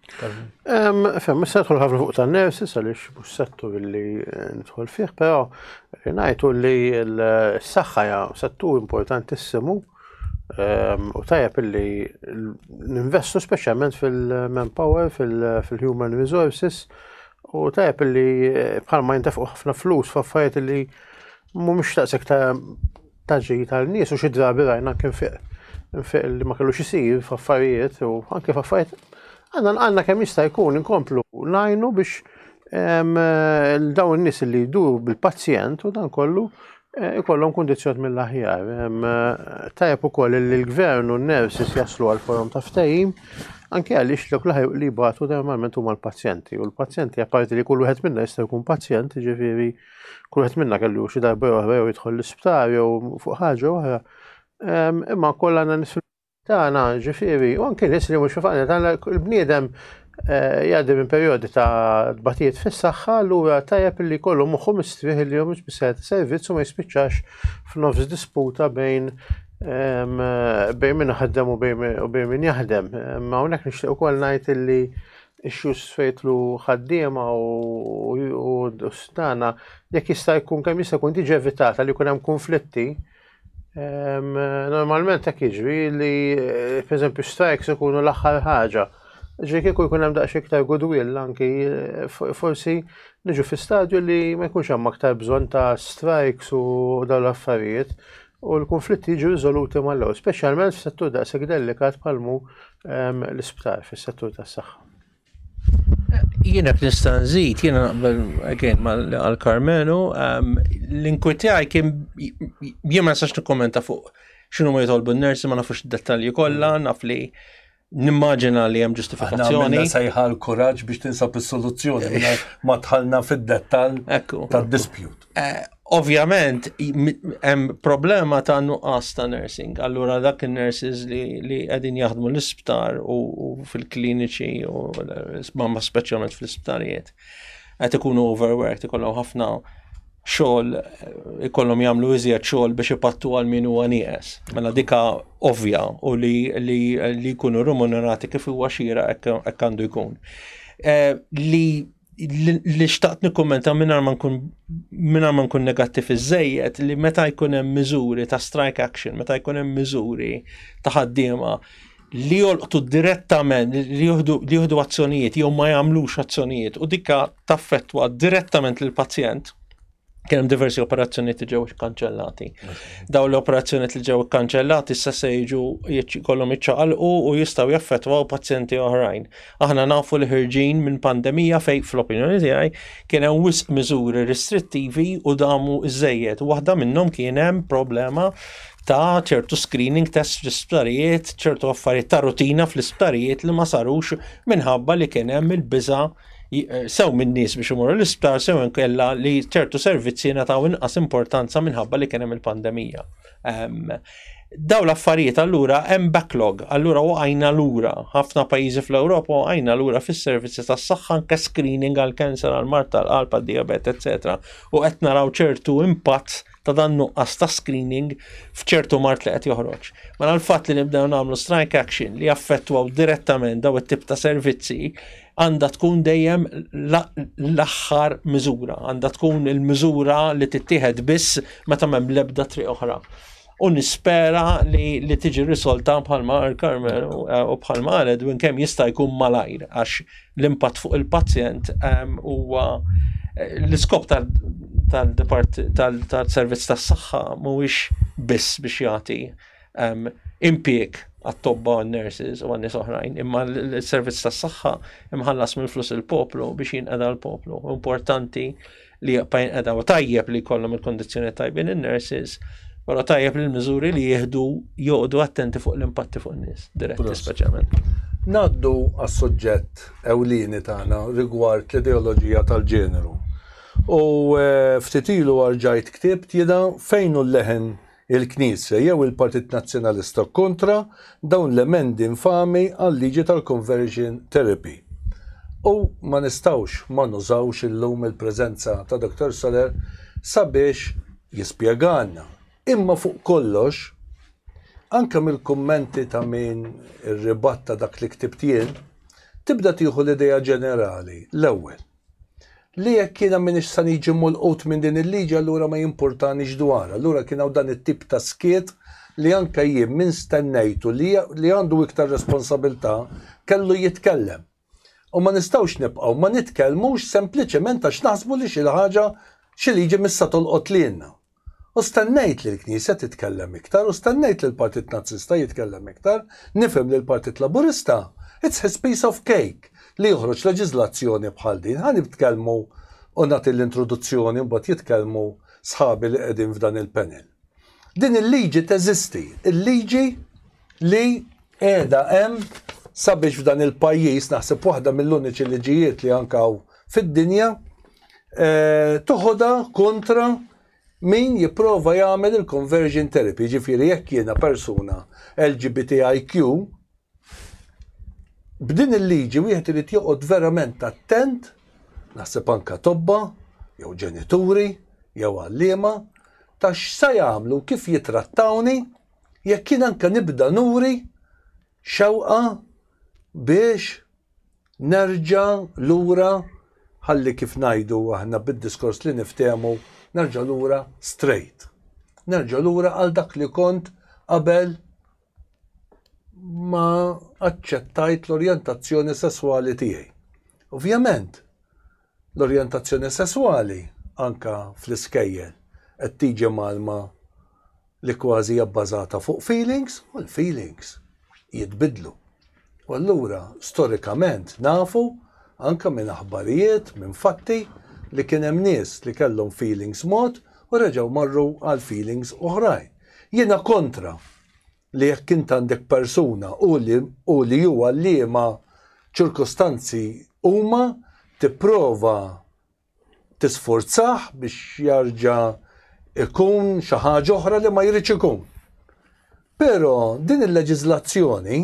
B: Fem, issa nidħol ħafna fuq ta' nersi, għaliex mhux settur li eh, nidħol fih, però ngħidu li l-saħħa settur importantissimu Ehm, u tajab illi ninvestu speċjalment fil-manpower, fil-human resources, u tajab illi eh, bħalma jintefqu ħafna flus f'affarijiet illi mhumiex taqsek ta' taġi tal-nies u xi drabi rajna kien fiq fiq li ma kellux isir f'affarijiet u anke f'affarijiet għandna għandna kemm jista' jkun inkomplu najnu biex ehm, dawn in-nies li jdu bil-pazjent u dan kollu Eh, ikollhom kundizzjoni mill-aħjar. Eh, tajjeb ukoll li l-gvern u n-nurses jaslu għal forum ta' ftehim, anke għaliex l laħi li batu normalment huma l-pazjenti. U l-pazjenti apparti li kull wieħed minna jista' jkun pazjent, ġifieri kull wieħed minna kellu xi darba oħra jew jidħol l-isptar jew fuq ħaġa oħra. Imma kollha għandna tagħna ġifieri u anke nies li mhux fil-familja tagħna il-bniedem eh, jgħaddi minn perjodi ta' tbatijiet fis-saħħa allura tajjeb li kollu moħħu mistrieħ li jom biss servizz u ma jispiċċax f'nofs disputa bejn ehm, bejn min ħaddem u bejn min jaħdem. Ma hawnhekk nixtieq ukoll ngħid illi xus fejtlu ħaddiema u stana jekk jista' jkun kemm jista' jkun tiġi evitata li jkun hemm konflitti Normalment hekk jiġri li pereżempju strikes ikunu l-aħħar ħaġa. Ġi kieku jkun hemm daqs iktar goodwill anki forsi niġu fi stadju li ma jkunx hemm aktar bżonn ta' strikes u dawn l-affarijiet u l-konflitti jiġu riżoluti mal-ewwel, speċjalment f'settur daqshekk delikat bħalmu l-isptar fis-settur tas-saħħa.
C: Jiena nista' nżid, jiena naqbel again għal Karmenu, ehm, l-inkwitjaj kien jien ma nistax nikkommenta fuq x'inhu ma jitolbu n-nersi ma nafux id-dettalji kollha, naf li nimmaġina li hemm ġustifikazzjoni. Għanna sajħa
A: l-kuraġġ biex tinsab is-soluzzjoni ma tħallna fid-dettall tad-dispjut. Eh, ovvjament,
C: hemm problema ta' nuqqas ta' nursing. Allura dak il-nurses li qegħdin jaħdmu l-isptar u fil-kliniċi u mamma speċjalment fl-isptarijiet qed ikunu overworked, ikollhom ħafna xogħol ikollhom jagħmlu iżjed xogħol biex ipattu għal min huwa nieqes. Mela dika ovvja u li li jkunu remunerati kif huwa xira hekk għandu jkun. Eh, li li xtaqt nikkummenta mingħajr ma nkun mingħajr ma nkun negattiv iżejjed li meta jkun hemm miżuri ta' strike action, meta jkun hemm miżuri ta' ħaddiema li jolqtu direttament, li jieħdu azzjonijiet jew ma jagħmlux azzjonijiet u dikka taffettwa direttament lill pazjent kien hemm diversi operazzjonijiet li ġew ikkanċellati. Daw l-operazzjonijiet li ġew ikkanċellati issa se jiġu kollhom iċċaqalqu u jistgħu jaffettwaw pazjenti oħrajn. Aħna nafu li ħirġin minn pandemija fejn fl-opinjoni tiegħi kien hemm wisq miżuri restrittivi u damu żejjed. Waħda minnhom kien hemm problema ta' ċertu screening test fl-isptarijiet, ċertu affarijiet ta' rutina fl-isptarijiet li ma sarux minħabba li kien hemm il-biża' Eh, sew minn nies biex imorru l-isptar sew inkella li ċertu servizzi nataw inqas importanza minħabba li kien hemm il-pandemija. Daw l-affarijiet allura hemm backlog, allura waqajna lura ħafna pajjiżi fl-Ewropa waqajna lura fis-servizzi tas-saħħa anke screening għal cancer għal mart tal-qalb għad-diabet, etc. U qed naraw ċertu impatt ta' dan nuqqas ta' screening f'ċertu mart li qed joħroġ. Mela l-fatt li nibdew nagħmlu strike action li jaffettwaw direttament daw it-tip ta' servizzi għandha tkun dejjem l-aħħar miżura, għandha tkun il-miżura li tittieħed biss meta m'hemm l-ebda triq oħra. U nispera li, li tiġi risolta bħalma Carmel u bħalma Edwin kemm jista' jkun malajr għax l-impatt fuq il-pazjent huwa l-iskop tal-servizz tas-saħħa mhuwiex biss biex jagħti impjieg għat-tobba u n-nurses u għannis oħrajn, imma l-servizz tas-saħħa imħallas mill-flus il-poplu biex jinqeda l-poplu. Importanti li jaqbajn edha u tajjeb li kollom il-kondizjoni tajbin il-nurses, pero tajjeb li l-mizuri li jihdu joqdu attenti fuq l-impatti fuq nis, diretti speċjalment. Naddu
A: għas suġġett ewlini tagħna rigward l-ideoloġija tal-ġeneru. U eh, ftit ilu arġajt ktibt jida fejn u l-leħen il-Knisja jew il-Partit Nazzjonalista kontra dawn l-emendi infami għal-liġi tal-conversion therapy. U ma nistgħux ma nużawx illum il-preżenza ta' Dottor Soler sabiex jispjegalna. Imma fuq kollox, anke mill-kummenti ta' min irribatta dak li ktibt jien, tibda tieħu l-idea ġenerali, l-ewwel, Li jekk jiena m'iniex sa niġi molqut minn din il-liġi allura ma jimpurtanix dwarha. Allura kien hawn dan it-tip ta' skiet li anke jien min stennejtu li li għandu iktar responsabilità kellu jitkellem. U ma nistgħux nibqgħu ma nitkellmux sempliċement għax naħsbu li xi ħaġa xi liġi missa tolqot lilna. U stennejt li l-Knisja titkellem iktar u stennejt li l-Partit Nazzista jitkellem iktar, nifhem li l-Partit Laburista it's his piece of cake li joħroġ leġiżlazzjoni bħal din. Ħa nitkellmu u nagħti l-introduzzjoni mbagħad jitkellmu sħabi li qegħdin f'dan il-panel. Din il-liġi teżisti, il-liġi, li qiegħda hemm sabiex f'dan il-pajjiż naħseb waħda mill-uniċi liġijiet li anke hawn fid-dinja eh, toħodha kontra min jipprova jagħmel il-conversion therapy, ġifieri jekk jiena persuna LGBTIQ, b'din il-liġi wieħed irid joqgħod verament attent, naħseb anka tobba, jew ġenituri, jew għalliema, ta' x'sa jagħmlu kif jitrattawni jekk jien anke nibda nuri xewqa biex nerġa' lura ħalli kif ngħidu aħna bid-diskors li niftehmu nerġa' lura straight. Nerġa' lura għal dak li kont qabel ma aċċettajt l-orjentazzjoni sesswali tiegħi. Ovvjament, L-orjentazzjoni sesswali, anke fl-iskejjel, qed tiġi mgħallma li kważi hija bbażata fuq feelings u l-feelings jitbiddlu. U allura storikament nafu, anke minn aħbarijiet, minn fatti, li kien hemm nies li kellhom feelings mod u reġgħu marru għal feelings oħrajn. Jiena kontra li jekk int għandek persuna u li u li huwa liema ċirkustanzi huma tipprova tisfurzah biex jarġa' ikun xi ħaġa oħra li ma jridx ikun. Però din il-leġiżlazzjoni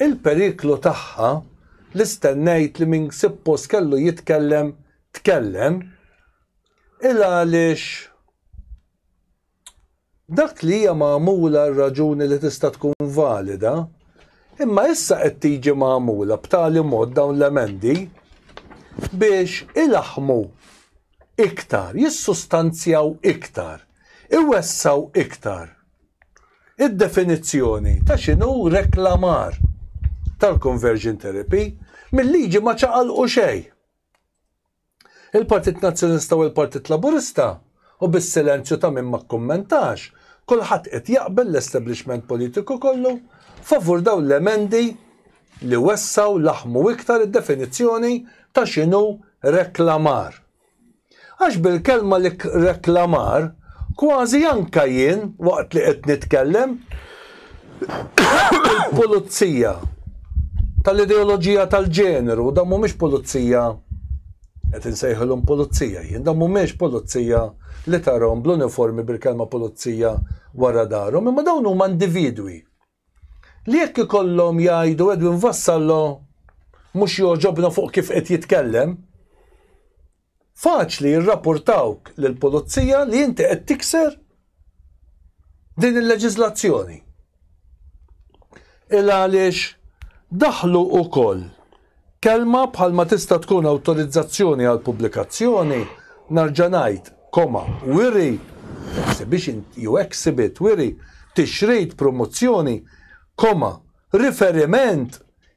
A: il-periklu tagħha li stennejt li min sippos kellu jitkellem tkellem il għaliex Dak li hija magħmula għal raġuni li tista' tkun valida, imma issa qed tiġi magħmula b'tali mod dawn l-emendi biex ilaħħmu iktar, jissustanzjaw iktar, iwessgħu iktar id-definizzjoni ta' x'inhu reklamar tal-conversion therapy mill-liġi ma ċaqalqu xejn. Il-Partit Nazzjonista u l-Partit Laburista, u bis-silenzju ta' min ma kkummentax, kulħadd qed jaqbel, l-establishment politiku kollu, favur dawn l-emendi li wessgħu, laħħmu iktar id-definizzjoni ta' x'inhu reklamar. Għax bil-kelma reklamar, kważi anke jien, waqt li qed nitkellem, il-pulizija tal-ideoloġija tal-ġeneru, dan mhumiex pulizija qed insejħilhom pulizija jien, dan mhumiex pulizija li tarhom bl-uniformi bil-kelma pulizija wara darhom, imma dawn huma individwi li jekk ikollhom jgħidu Edwin Vassallo mhux joġobna fuq kif qed jitkellem, Faċli jirrapurtawk lill-pulizija li inti qed tikser din il-leġiżlazzjoni. Il għaliex daħlu wkoll kelma bħal ma tista' tkun awtorizzazzjoni għal pubblikazzjoni, narġa' ngħid, koma, wiri, exhibition jew exhibit, wiri, tixrid, promozzjoni, koma, riferiment,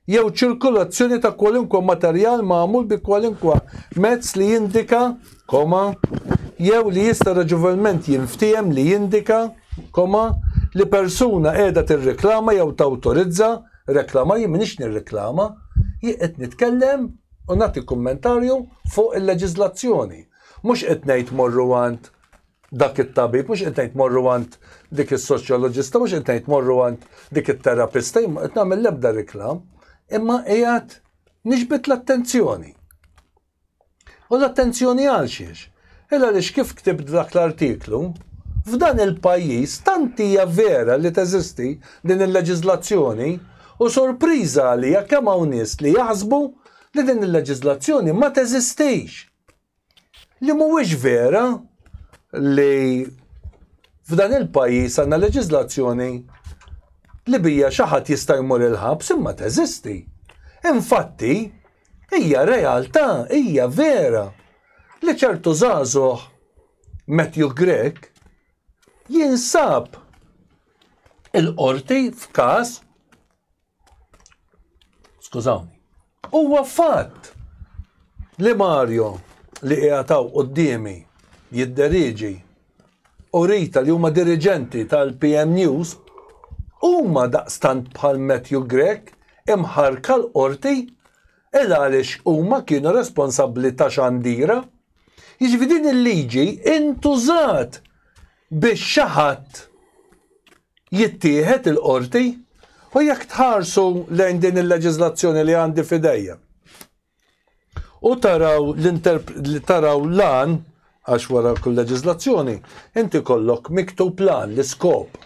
A: jew ċirkulazzjoni ta' kwalunkwe materjal magħmul bi kwalunkwe mezz li jindika, koma, jew li jista' raġevolment jinftiehem li jindika, koma, li persuna qiegħda tirreklama jew tawtorizza, reklama, jien m'iniex nirreklama, jien qed nitkellem u nagħti kummentarju fuq il-leġiżlazzjoni. Mhux qed ngħid morru għand dak it-tabib, mhux qed ngħid morru għand dik is-soċjoloġista, mhux qed ngħid morru għand dik it-terapista, jien ma qed nagħmel l-ebda riklam, imma qiegħed niġbed l-attenzjoni. U l-attenzjoni għal xiex? Illa li kif ktibt dak l-artiklu, f'dan il-pajjiż tant hija vera li teżisti din il-leġiżlazzjoni u sorpriża għalija kemm hawn nies li jaħsbu li din il-leġiżlazzjoni ma teżistix. li mhuwiex vera li f'dan il-pajjiż għandna leġiżlazzjoni li bija xi ħadd jista' jmur il-ħabs imma teżisti. Infatti, hija realtà, hija vera li ċertu żagħżugħ Matthew Grek jinsab il-qorti f'każ Skużawni. Huwa fatt li Mario li qiegħataw qudiemi jidderiġi u Rita li huma diriġenti tal-PM News huma daqstant bħal Matthew Grech imħarka l-qorti il għaliex huma kienu responsabbli ta' xandira. Jiġifieri din il-liġi intużat biex xi ħadd jittieħed il-qorti u jekk tħarsu lejn din il-leġiżlazzjoni li għandi f'idejja. U taraw li taraw lan għax wara kull leġiżlazzjoni, inti kollok miktub lan l-iskop.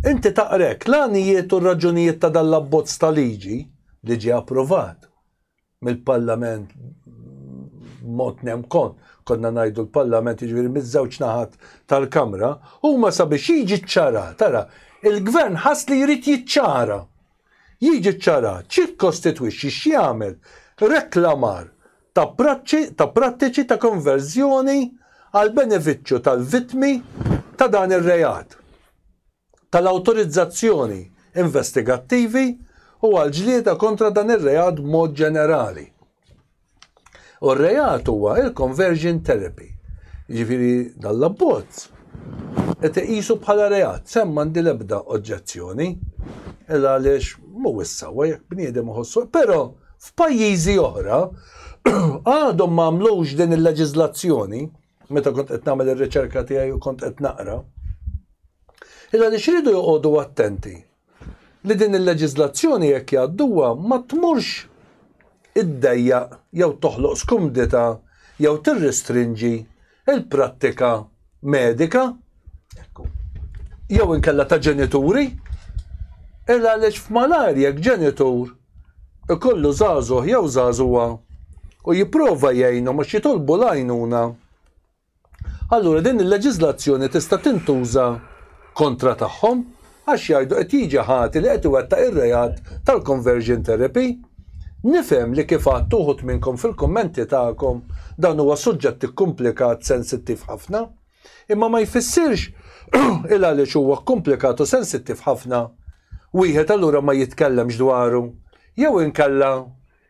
A: Inti taqrek l-għanijiet u raġunijiet ta' dal-abbozz ta' liġi li ġie approvat. mill-Parlament mod nem kon, konna najdu l-Parlament jiġifieri miż-żewġ naħat tal-Kamra, huma sabiex jiġi ċċara, tara, il-Gvern ħass li jrid jiċċara. Jiġi ċċara ċikkostitwixxi x'jagħmel reklamar ta' ta' prattiċi ta' konverżjoni għal benefiċċju tal-vittmi ta' dan ir-reat. tal-awtorizzazzjoni investigattivi u għall-ġlieda kontra dan ir-reat b'mod ġenerali. U r-reat huwa il-conversion therapy. Jiġifieri dan l-abbozz qed iqisu bħala reat, sem m'għandi l-ebda oġġezzjoni, il għaliex mhuwiex sewwa jekk bniedem iħossu, però f'pajjiżi oħra għadhom ma għamlux din il-leġiżlazzjoni meta kont qed nagħmel ir-riċerka tiegħi u kont qed naqra, illa li xridu joqogħdu attenti li din il-leġiżlazzjoni jekk jgħadduha ma tmurx iddejja jew toħloq skumdita jew tirristrinġi il-prattika medika Jew inkella ta' ġenituri, il għaliex f'malar jekk ġenitur ikollu żagħżugħ jew żagħżugħa u jipprova jgħinhom għax jitolbu l-għajnuna, allura din il-leġiżlazzjoni tista' tintuża kontra tagħhom għax jgħidu qed jiġi ħati li qed iwettaq ir-reat tal-conversion therapy. Nifhem li kif għadt uħud minnkom fil-kummenti tagħkom dan huwa suġġett ikkumplikat, sensittiv ħafna, Imma ma jfissirx il għaliex huwa kkumplikat u sensittiv ħafna, wieħed allura ma jitkellemx dwaru, jew inkella,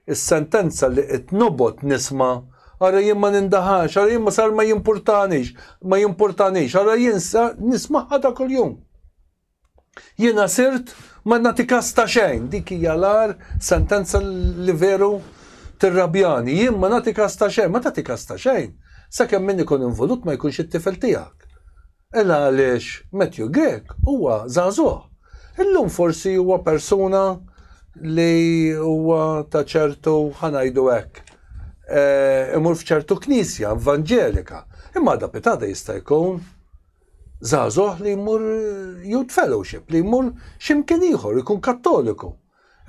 A: is-sentenza li qed nobgħod nisma', ara jien ma nindaħalx, ara jien ma sar ma jimpurtanix, ma jimpurtanix, ara jien nismagħha ta' kuljum. Jiena sirt ma nagħti kas ta' xejn, dik hija l-agħar sentenza li veru tirrabjani. Jien ma nagħti kas ta' xejn, ma tagħti kas ta' xejn, sakemm min ikun involut ma jkunx it-tifel tiegħek. Ela għaliex Matthew Grech huwa żagħżugħ. Illum forsi huwa persuna li huwa ta' ċertu, ħa ngħidu hekk, imur f'ċertu knisja evanġelika, imma għada pitada jista' jkun żagħżugħ li jmur youth fellowship, li jmur x'imkien ieħor, ikun kattoliku.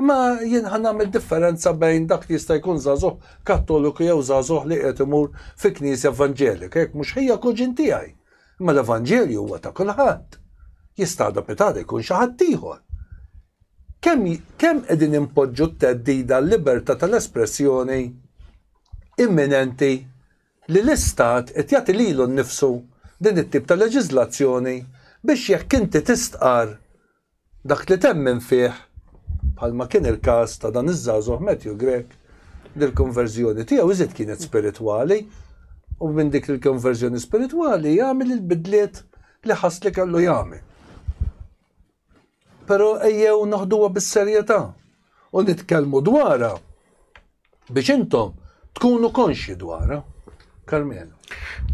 A: Imma jien ħa nagħmel differenza bejn dak li jista' jkun żagħżugħ kattoliku jew żagħżugħ li qiegħed imur fi knisja evanġelika, jekk mhux ħija kuġin tiegħi. Imma l-Evanġelju huwa ta' kulħadd. Jista' għada pitada jkun xi ħadd ieħor. Kemm kemm qegħdin impoġġu t-teddida l-libertà tal-espressjoni imminenti li l-Istat qed jagħti lilu nnifsu din it-tip ta' leġiżlazzjoni biex jekk inti tistqarr dak li temmen fih, bħalma kien il-każ ta' dan iż-żagħżugħ Matthew Grech li l-konverżjoni tiegħu iżjed kienet spiritwali u minn dik il-konverżjoni spiritwali jagħmel il-bidliet li ħass li kellu jagħmel. Pero ejjew noħduha bis-serjetà u nitkellmu dwarha biex intom tkunu konxji dwarha. Karmenu.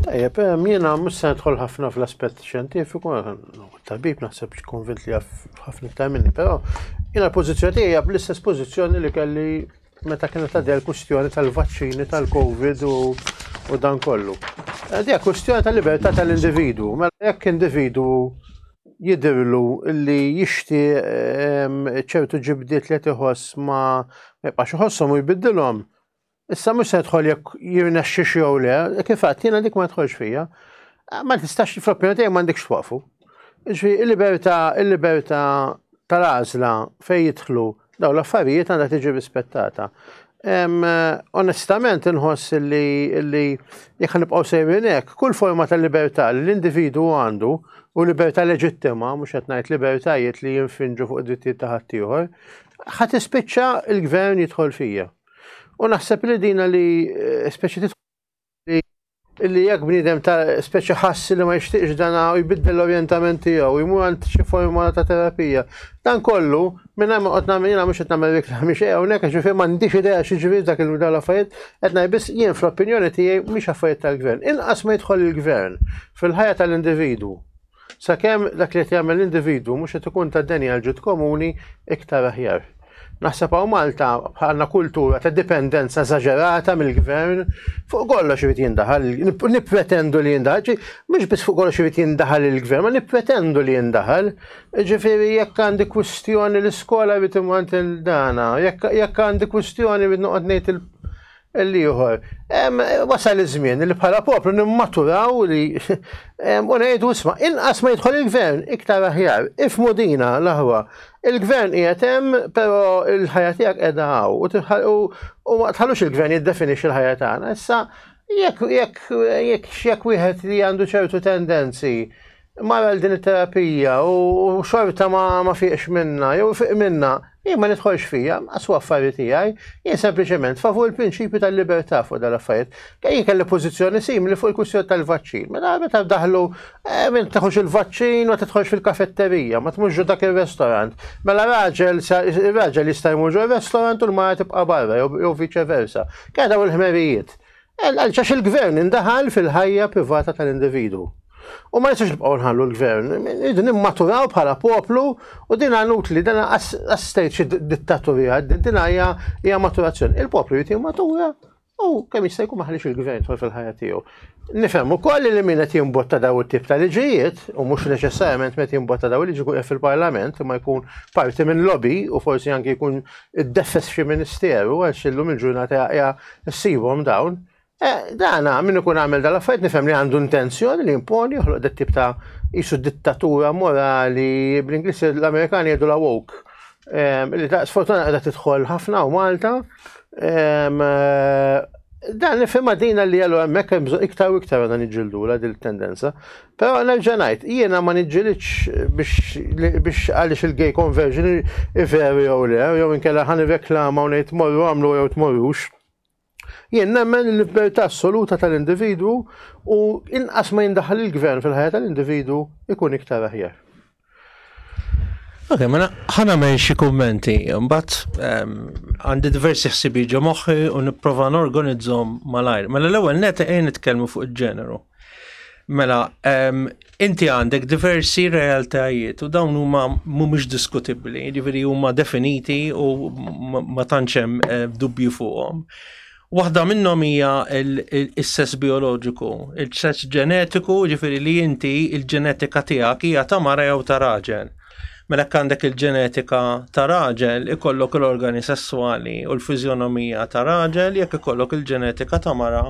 A: Tajjeb,
B: jiena mhux se nidħol ħafna fl-aspett xjentifiku, tabib naħseb konvint li jaf ħafna iktar minni, però jiena l-pożizzjoni tiegħi hija bl-istess pożizzjoni li kelli Meta kienet għaddej l-kwistjoni tal-vaċċini tal-Covid u dan kollu. Għaddej kwistjoni tal-libertà tal-individwu. Mela jekk individwu jidirlu li jixti ehm, ċertu ġibdiet li tiħoss ma jibqax iħossom u jbiddilhom, Issa mhux se tħol jekk jirnexxi jew le, kif għad jiena dik ma tħolx fija. Ma tistax fl-opinjoni tiegħi m'għandekx twaqfu. Ġi, il-libertà, il-libertà tal-għażla fejn jidħlu daw l-affarijiet għandha tiġi rispettata. Onestament inħoss li li jekk nibqgħu sejrin hekk, kull forma ta' libertà li l-individu għandu u libertà leġittima, mhux qed ngħid libertajiet li jinfinġu fuq id-drittijiet ta' ħaddieħor, ħadd ispiċċa l-gvern jidħol fija. U naħseb li dina li eh, speċi illi jekk bniedem ta' speċi ħassi li ma jixtieqx dan u jbiddel l-orjentament tiegħu, jmur għand xi forma ta' terapija. Dan kollu, minn hemm qed nagħmel jiena mhux qed nagħmel reklam mhix hawnhekk għax ġifier m'għandix idea xi ġifieri dak il dawn l-affarijiet, qed ngħid biss jien fl-opinjoni tiegħi mhix affarijiet tal-gvern. Inqas ma jidħol il-gvern fil-ħajja tal-individwu. Sakemm dak li qed jagħmel l-individwu mhux qed ikun ta' deni għal ġid komuni iktar aħjar. Naħseb hawn Malta bħalna kultura ta' dipendenza eżaġerata mill-gvern fuq kollox irid jindaħal, nippretendu li jindaħal, mhux biss fuq kollox irid jindaħal il-gvern, ma nippretendu li jindaħal. Ġifieri jekk għandi kwistjoni l-iskola irid imant il-dana, jekk għandi kwistjoni irid noqgħod ngħid l-ieħor. Wasal iż-żmien li bħala poplu nimmaturaw li u ngħidu isma' inqas ma jidħol il-gvern iktar aħjar. Ifmu dina l-aħwa. Il-gvern qiegħed hemm però l-ħajja tiegħek qiegħda hawn u ma tħallux il-gvern jiddefinixxi l-ħajja tagħna. Issa jekk jekk jekk jekk wieħed li għandu ċertu tendenzi Mara l din it-terapija u xorta ma, ma fiqx minna, jew fiq minna, jien ma nidħolx fija, għasu affari tiegħi, jien sempliċement favur il-prinċipju tal-libertà fuq dal-affarijiet. Jien kelli pożizzjoni simili fuq il-kwistjoni tal-vaċċin. Mela meta daħlu eh, minn taħux il-vaċċin ma titħolx fil-kafetterija, ma tmux dak ir-restorant. Mela raġel raġel jista' jmur ġo restorant u l-mara tibqa' barra jew viċe versa. Keda u l-ħmerijiet. Għax il-gvern indaħal fil-ħajja privata tal-individwu. U ma nistgħux nibqgħu nħallu l-gvern, irridu nimmaturaw bħala poplu u din għanut li dan għas-stage dittaturija, din hija maturazzjoni. Il-poplu jrid jimmatura u kemm jista' jkun maħalix il-gvern tħol fil-ħajja tiegħu. Nifhem ukoll li min qed jimbotta daw it-tip ta' liġijiet u mhux neċessarjament qed jimbotta daw il-liġi jkun fil-Parlament imma jkun parti minn lobby u forsi anke jkun iddefes xi ministeru għax illum il-ġurnata hija ssibhom dawn. Eh, dana, min ikun għamel dal-affarijiet nifhem li għandu intenzjoni li imponi joħloq dat tip ta' jisu dittatura morali bl-Inglis l-Amerikani jgħidu la woke. Ehm, li ta' sfortuna għadha tidħol ħafna u Malta. Ehm, eh, dan nifhem dina li għallu hemmhekk hemm iktar u iktar għadha niġġildu la dil-tendenza. Però nerġa' ngħid, jiena ma niġġilidx biex għaliex il-gay conversion hi veru jew le, jew inkella ħa nirreklama u ngħid morru għamlu jew tmorrux. Jien nemmen li l-libertà assoluta tal-individwu u inqas ma jindaħal il-gvern fil-ħajja tal-individwu ikun iktar aħjar.
C: Ok, mela ħana men xi kummenti, mbagħad ehm, għandi diversi ħsibi ġo moħħi u nipprova norganizzhom malajr. Mela l-ewwel net ejn nitkellmu fuq il-ġeneru. Mela, ehm, inti għandek diversi realtajiet u dawn huma mhumiex diskutibbli, jiġifieri huma definiti u ma tantx hemm eh, dubju fuqhom. Waħda minnhom hija s-sess bioloġiku, il-sess ġenetiku, ġifiri li inti il-ġenetika tiegħek hija ta' mara jew ta' raġel. Mela għandek il-ġenetika ta' raġel, ikollok l-organi sesswali u l-fiżjonomija ta' raġel, jekk ikollok il-ġenetika ta' mara,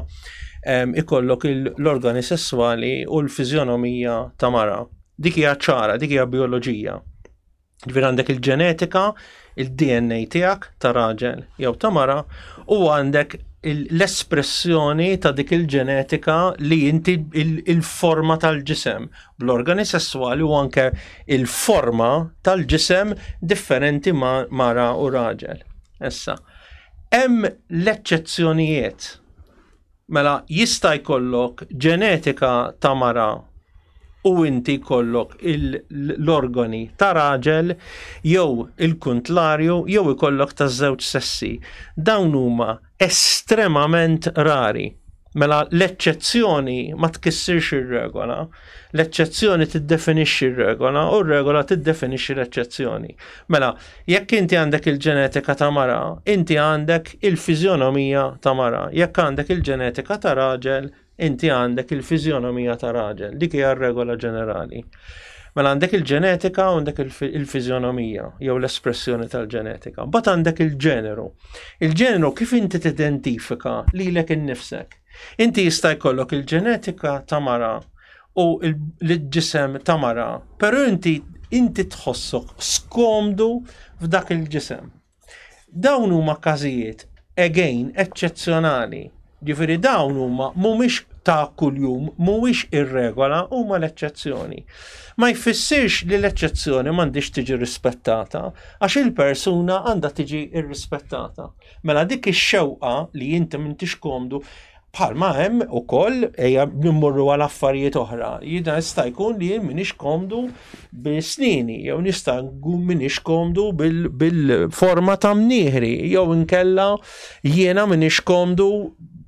C: ikollok l-organi sesswali u l-fiżjonomija ta' mara. Dik hija ċara, dik hija bioloġija. Ġifier għandek il-ġenetika, il-DNA tiegħek ta' raġel jew ta' mara u għandek l-espressjoni ta' dik il-ġenetika li inti il-forma tal-ġisem bl-organi sessuali u anke il-forma tal-ġisem differenti ma' mara u raġel. Issa, hemm l-eċċezzjonijiet Mela jista' jkollok ġenetika ta' mara u inti jkollok l-organi ta' raġel jew il-kuntlarju jew ikollok ta' żewġ sessi. Dawn huma estremament rari. Mela l-eċċezzjoni ma tkissirx ir-regola, l-eċċezzjoni tiddefinixxi r-regola u r-regola tiddefinixxi l-eċċezzjoni. Mela Jekk inti għandek il-ġenetika ta' mara, inti għandek il-fiżjonomija ta' mara. Jekk għandek il-ġenetika ta' raġel, inti għandek il-fiżjonomija ta' raġel. Dik hija r-regola ġenerali. Mela għandek il-ġenetika u għandek il-fiżjonomija jew l-espressjoni tal-ġenetika. Bat għandek il-ġeneru. Il-ġeneru kif inti tidentifika lilek innifsek. Inti jista' jkollok il-ġenetika ta' mara u l-ġisem ta' mara, pero inti inti tħossok skomdu f'dak il-ġisem. Dawn huma każijiet again eċċezzjonali. Ġifieri dawn huma mhumiex ta' kuljum, mhuwiex ir-regola, huma l-eċċezzjoni. Ma jfissirx li l-eċċezzjoni m'għandix tiġi rispettata għax il-persuna għandha tiġi rrispettata. Mela dik ix-xewqa li inti m'intix komdu Bħalma hemm ukoll ejja nimmorru għal affarijiet oħra. Jidha jista' jkun li jien minix komdu bil-snini, jew nista' nkun minix komdu bil-forma ta' mnieħri, jew inkella jiena minix komdu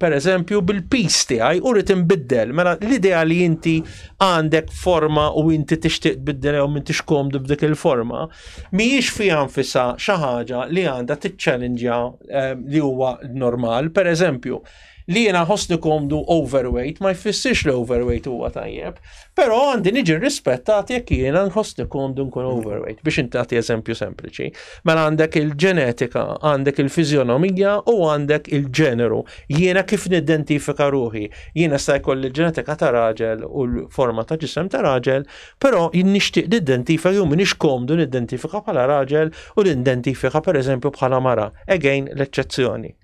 C: per eżempju bil-pis tiegħi u rrid inbiddel. Mela l-idea li inti għandek forma u inti tixtieq tbiddel jew m'intix komdu b'dik il-forma, mhijiex fiha nfisha xi ħaġa li għandha tiċċellinġja eh, li huwa normal, per eżempju, li jena ħosni komdu overweight, ma jfissirx li overweight huwa tajjeb, pero għandi niġi rispettat jekk jena nħosni komdu nkun mm. overweight, biex intati eżempju sempliċi. Mela għandek il-ġenetika, għandek il-fizjonomija u għandek il-ġeneru. Jena kif nidentifika ruħi, jena sta jkolli ġenetika ta' raġel u l-forma ta' ġisem ta' raġel, Però jien nixtieq niddentifika jew m'iniex komdu niddentifika bħala raġel u nindentifika pereżempju bħala mara, again l-eċċezzjoni.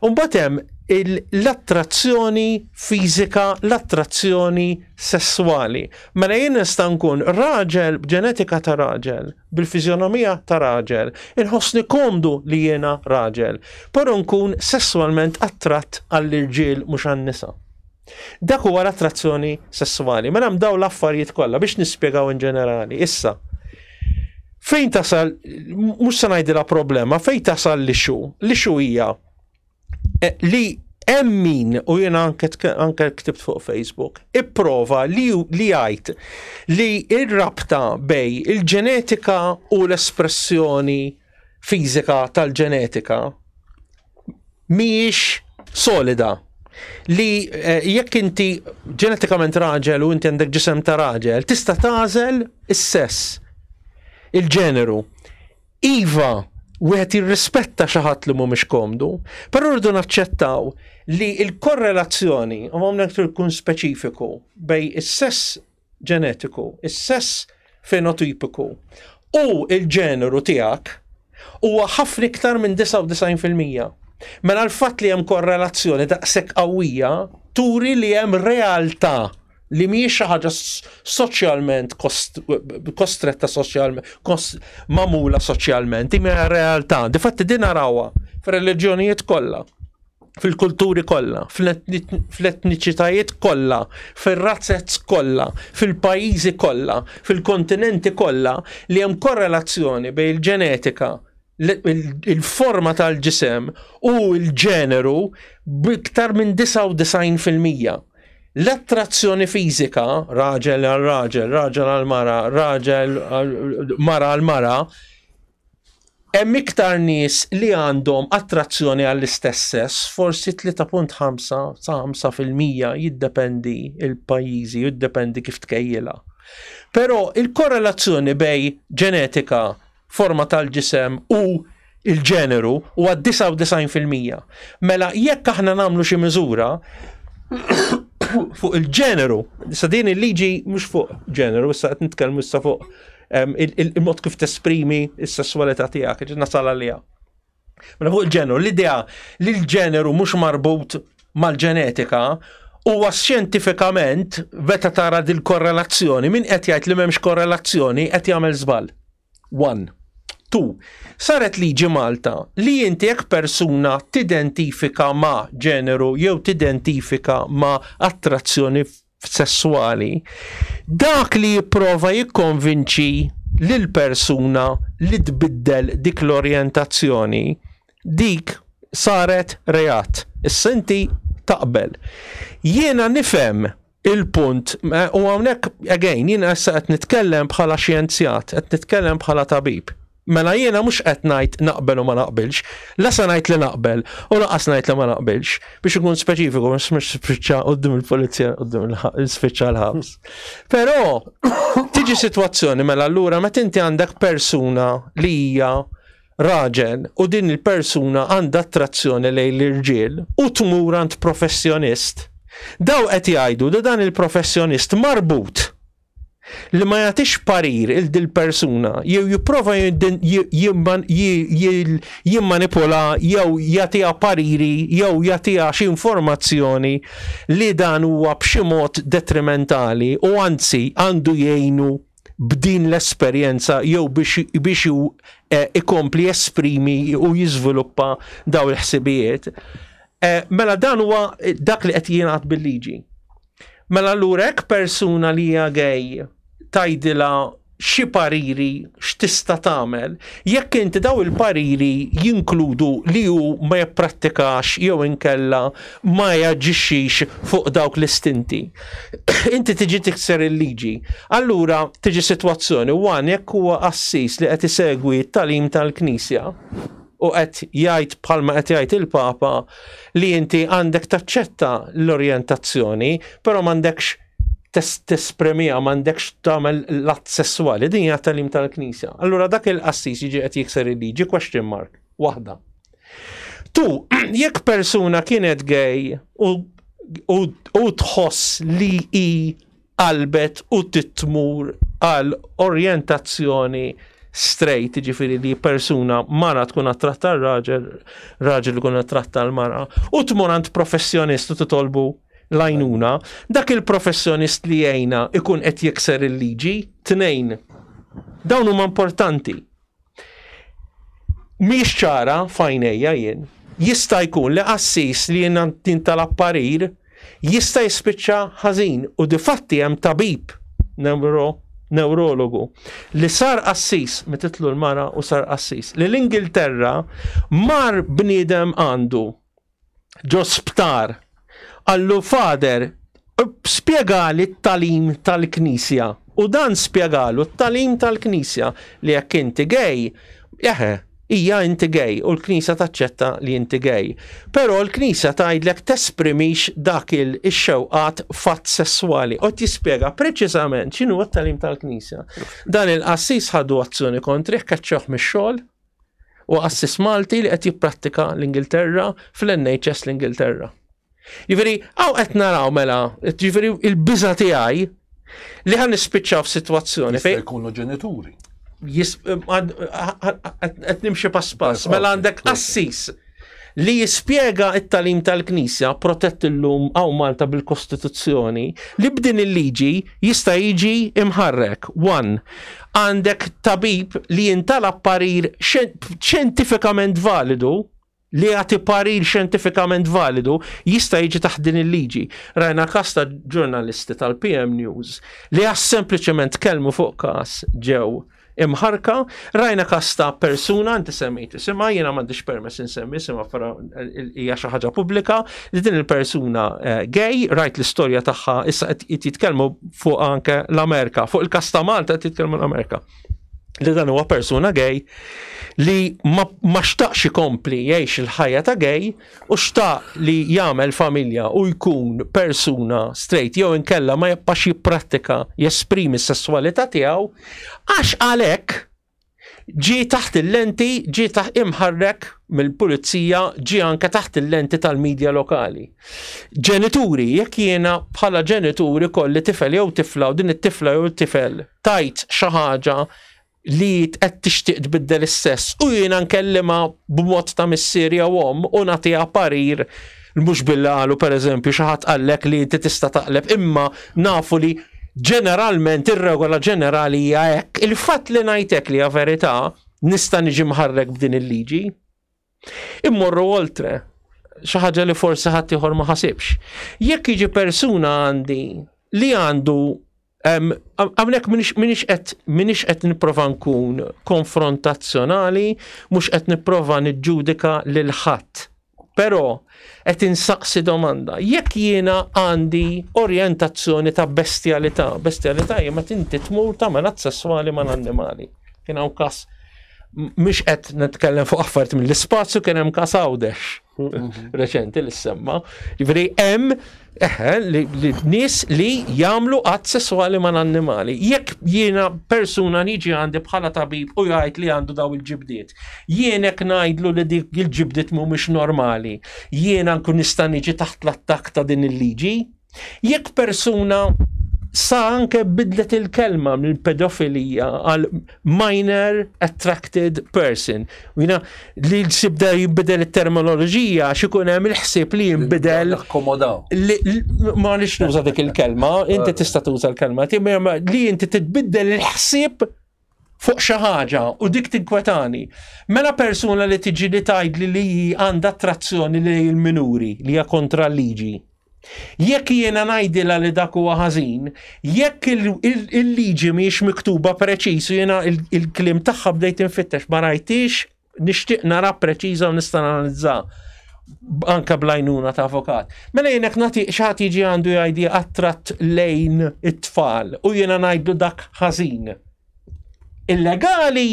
C: U mbagħad hemm l-attrazzjoni fiżika, l-attrazzjoni sesswali. Mela jien nista' nkun raġel b'ġenetika ta' raġel, bil-fiżjonomija ta' raġel, inħossni komdu li jiena raġel, però nkun sesswalment attratt għall-irġiel mhux għan-nisa. Dak huwa l-attrazzjoni sesswali. Mela hemm dawn l-affarijiet kollha biex nispjegaw in ġenerali. Issa, fejn tasal, mhux se ngħidilha problema, fejn tasal li xu, li xu hija eh, li hemm min u jiena anke anke ktibt fuq Facebook, ipprova li li jgħid li r-rabta bej il-ġenetika u l-espressjoni fiżika tal-ġenetika mhijiex solida li eh, jekk inti ġenetikament raġel u inti għandek ġisem ta' raġel, tista' tażel is-sess, il-ġeneru. Iva, wieħed jirrispetta xi ħadd li mhumiex komdu, però rridu naċċettaw li l-korrelazzjoni, u hawnhekk tkun speċifiku, bej is-sess ġenetiku, is-sess fenotipiku u l-ġeneru tiegħek huwa ħafna iktar minn 99 fil-mija. Mela l-fatt li hemm korrelazzjoni daqshekk qawwija turi li hemm realtà li mhijiex xi ħaġa soċjalment kostretta soċjalment, mamula soċjalment, imma realtà. Difatti din narawha fir-reliġjonijiet kollha. fil-kulturi kollha, fl-etniċitajiet kollha, fir-razzez kollha, fil-pajjiżi kollha, fil-kontinenti kollha li hemm korrelazzjoni bejn il-ġenetika, il-forma tal-ġisem u l-ġeneru b'iktar minn 99%. L-attrazzjoni fiżika, raġel għal raġel, raġel għal mara, raġel mara għal mara, Hemm iktar nies li għandhom attrazzjoni għall-istess sess, forsi 3.5 sa 5 fil-mija jiddependi il-pajjiżi, jiddependi kif tkejjilha. Però il-korrelazzjoni bej ġenetika, forma tal-ġisem u l-ġeneru huwa 99 fil-mija. Mela jekk aħna nagħmlu xi miżura fuq il-ġeneru, sa din il-liġi mhux fuq ġeneru, issa qed nitkellmu issa fuq il-mod kif tesprimi s-sessualità tiegħek, ġi nasal għaliha. Mela fuq il-ġeneru, l-idea li l-ġeneru mhux marbut mal-ġenetika huwa xjentifikament meta tara dil-korrelazzjoni, min qed jgħid li m'hemmx korrelazzjoni qed jagħmel żball. One. Tu, saret liġi Malta li inti jekk persuna tidentifika ma' ġeneru jew tidentifika ma' attrazzjoni sesswali, dak li jipprova jikkonvinċi lill-persuna li tbiddel dik l-orjentazzjoni, dik saret reat. Issa inti taqbel. Jiena nifhem il-punt eh, u hawnhekk again jiena issa qed nitkellem bħala xjenzjat, qed nitkellem bħala tabib. Mela jiena mhux qed ngħid naqbel u ma naqbilx. La se ngħid li naqbel u lanqas ngħid li ma naqbilx. Biex ikun speċifiku ma smiex spiċċa quddiem il-pulizija quddiem il-spiċċa l-ħabs. Però tiġi sitwazzjoni mela allura meta inti għandek persuna li hija raġel u din il-persuna għandha attrazzjoni lejn l-irġiel u tmur għand professjonist. Daw qed jgħidu li dan il-professjonist marbut li ma jagħtix parir il dil persuna jew jipprova jimmanipula jew jagħtiha pariri jew jagħtiha xi informazzjoni li dan huwa b'xi mod detrimentali u anzi għandu jgħinu b'din l-esperjenza jew biex e, ikompli esprimi u jiżviluppa daw il-ħsibijiet. E, mela dan huwa dak li qed jingħad bil-liġi. Mela allura hekk persuna li hija gay tgħidilha xi pariri x'tista' tagħmel jekk inti daw il-pariri jinkludu li hu ma jipprattikax jew inkella ma jaġixxix fuq dawk l-istinti. Inti tiġi tikser il-liġi. Allura tiġi sitwazzjoni one jekk huwa qassis li qed isegwi t-tagħlim tal-Knisja u qed jgħid bħalma qed jgħid il-Papa li inti għandek taċċetta l-orjentazzjoni, però m'għandekx tespremija m'għandekx tagħmel l-att sesswali, din hija talim tal-Knisja. Allura dak il-qassis jiġi qed jikser il-liġi question mark waħda. Tu, jekk persuna kienet gay u tħoss li hi qalbet u titmur għal orjentazzjoni straight, jiġifieri li persuna mara tkun qed tratta r-raġel, raġel ikun qed tratta l-mara, u tmur għand professjonist u titolbu l-għajnuna, dak il-professjonist li jgħinha ikun qed jikser il-liġi, tnejn. Dawn huma importanti. Mhix ċara f'għajnejja jien. Jista' jkun li qassis li jintalab parir jista' jispiċċa ħażin u difatti hemm tabib newro newrologu li sar qassis mititlu l-mara u sar qassis li l-Ingilterra mar bniedem għandu ġo sptar. Qallu, Father, spjegali t-talim tal-Knisja. U dan spjegalu t-talim tal-Knisja li jekk inti gej, eħe, hija inti gej u l-Knisja taċċetta li inti gej. Però l-Knisja tgħidlek tesprimix dak il-xewqat fatt sesswali. U tispjega preċiżament x'inhu t-talim tal-Knisja. Dan il-qassis ħadu azzjoni kontri keċċoħ mix-xogħol Huwa qassis Malti li qed jipprattika l-Ingilterra fl-NHS l-Ingilterra. Jiġifieri hawn qed naraw mela, jiġifieri il-biża' tiegħi li ħan nispiċċaw f'sitwazzjoni fejn. Jista' jkunu ġenituri. Qed nimxi pass pass, mela għandek qassis li jispjega it-talim tal-Knisja protett illum għaw Malta bil-Kostituzzjoni li b'din il-liġi jista' jiġi imħarrek. 1. Għandek tabib li jintala parir xjentifikament validu li jagħti parir xjentifikament validu jista' jiġi taħt din il-liġi. Rajna kas ta' ġurnalisti tal-PM News li għas sempliċement kelmu fuq kas ġew imħarrka, rajna każ ta' persuna, inti semmejt isimha, jiena m'għandix permess insemmi isimha fra hija xi ħaġa pubblika, li din il-persuna eh, gay, rajt l-istorja tagħha issa qed jitkellmu fuq anke l-Amerika, fuq il-każ ta' Malta qed jitkellmu l-Amerika li dan huwa persuna gay li ma xtaqx ikompli jgħix il-ħajja ta' gay Hu xtaq li jagħmel familja u jkun persuna straight jew inkella ma jibqax jipprattika jesprimi s-sesswalità tiegħu għax għalhekk ġie taħt il-lenti ġie taħt imħarrek mill-pulizija ġie anke taħt il-lenti tal-medja lokali. Ġenituri, jekk jiena bħala ġenituri kolli tifel jew tifla u din it-tifla jew tifel tajt xi ħaġa li qed tixtieq tbiddel is-sess u jiena nkellimha b'mod ta' missier jew omm u nagħtiha parir mhux billi qalu pereżempju xi ħadd qallek li inti tista' taqleb imma nafu li ġeneralment ir-regola ġenerali hija hekk. Il-fatt li ngħid hekk li hija verità nista' niġi mħarrek b'din il-liġi? Immorru oltre, xi ħaġa li forsi ħadd ieħor ma ħasibx. Jekk jiġi persuna għandi li għandu Għamnek minix qed minix qed nipprova nkun konfrontazzjonali, mhux qed nipprova niġġudika lil ħadd. Però qed insaqsi domanda, jekk jiena għandi orjentazzjoni ta' bestjalità, bestjalità hija meta inti tmur tagħmel att sesswali mal-annimali. Kien hawn kas mhux qed nitkellem fuq affarijiet mill-ispazju kien hemm kas għawdex mhm. reċenti li semma. Jiġri hemm eħe li nies li jagħmlu att sesswali ma' annimali. Jekk jiena persuna niġi għandi bħala tabib u jgħid li għandu daw il-ġibdiet. Jienek ngħidlu li dik il-ġibdiet mhumiex normali. Jiena nkun nista' niġi taħt l-attakk ta' din il-liġi. Jekk persuna sa anke bidlet il-kelma minn pedofilija għal minor attracted person. Jina li sibda jibbidel il-terminologija xikun hemm il-ħsib li jimbidel. Ma nix nuża dik il-kelma, inti tista' tuża l-kelma, li inti titbiddel il-ħsib fuq xi ħaġa u dik tinkwetani. Mela persuna li tiġi li tgħidli li hi għandha attrazzjoni lejn il-minuri li hija kontra l-liġi. Jekk jiena ngħidilha li dak huwa ħażin, jekk il-liġi mhijiex miktuba preċiż u jiena il-kliem tagħha bdejt infittex ma rajtix nixtieq nara preċiża u nista' analizza anka blajnuna ta' avokat. Mela jenek nati xaħat jiġi għandu jgħidi għattrat lejn it-tfal u jena najdu dak ħażin. Illegali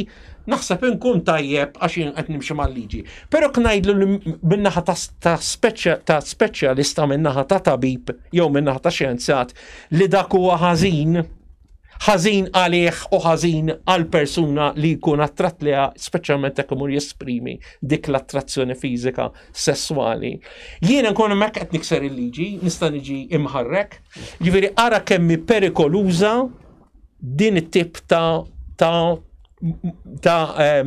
C: naħseb inkun tajjeb għax jien qed nimxi mal-liġi. Però knajdlu minnaħa ta' speċjalista minnaħa ta' tabib jew minnaħa ta' xjenzjat li dak huwa ħażin ħażin għalih u ħażin għal persuna li jkun attratt liha, speċjalment jekk imur jesprimi dik l-attrazzjoni fiżika sesswali. Jiena nkun hemmhekk qed nikser il-liġi, nista' niġi imħarrek, jiġifieri ara kemm perikoluża din it-tip ta' ta' ta'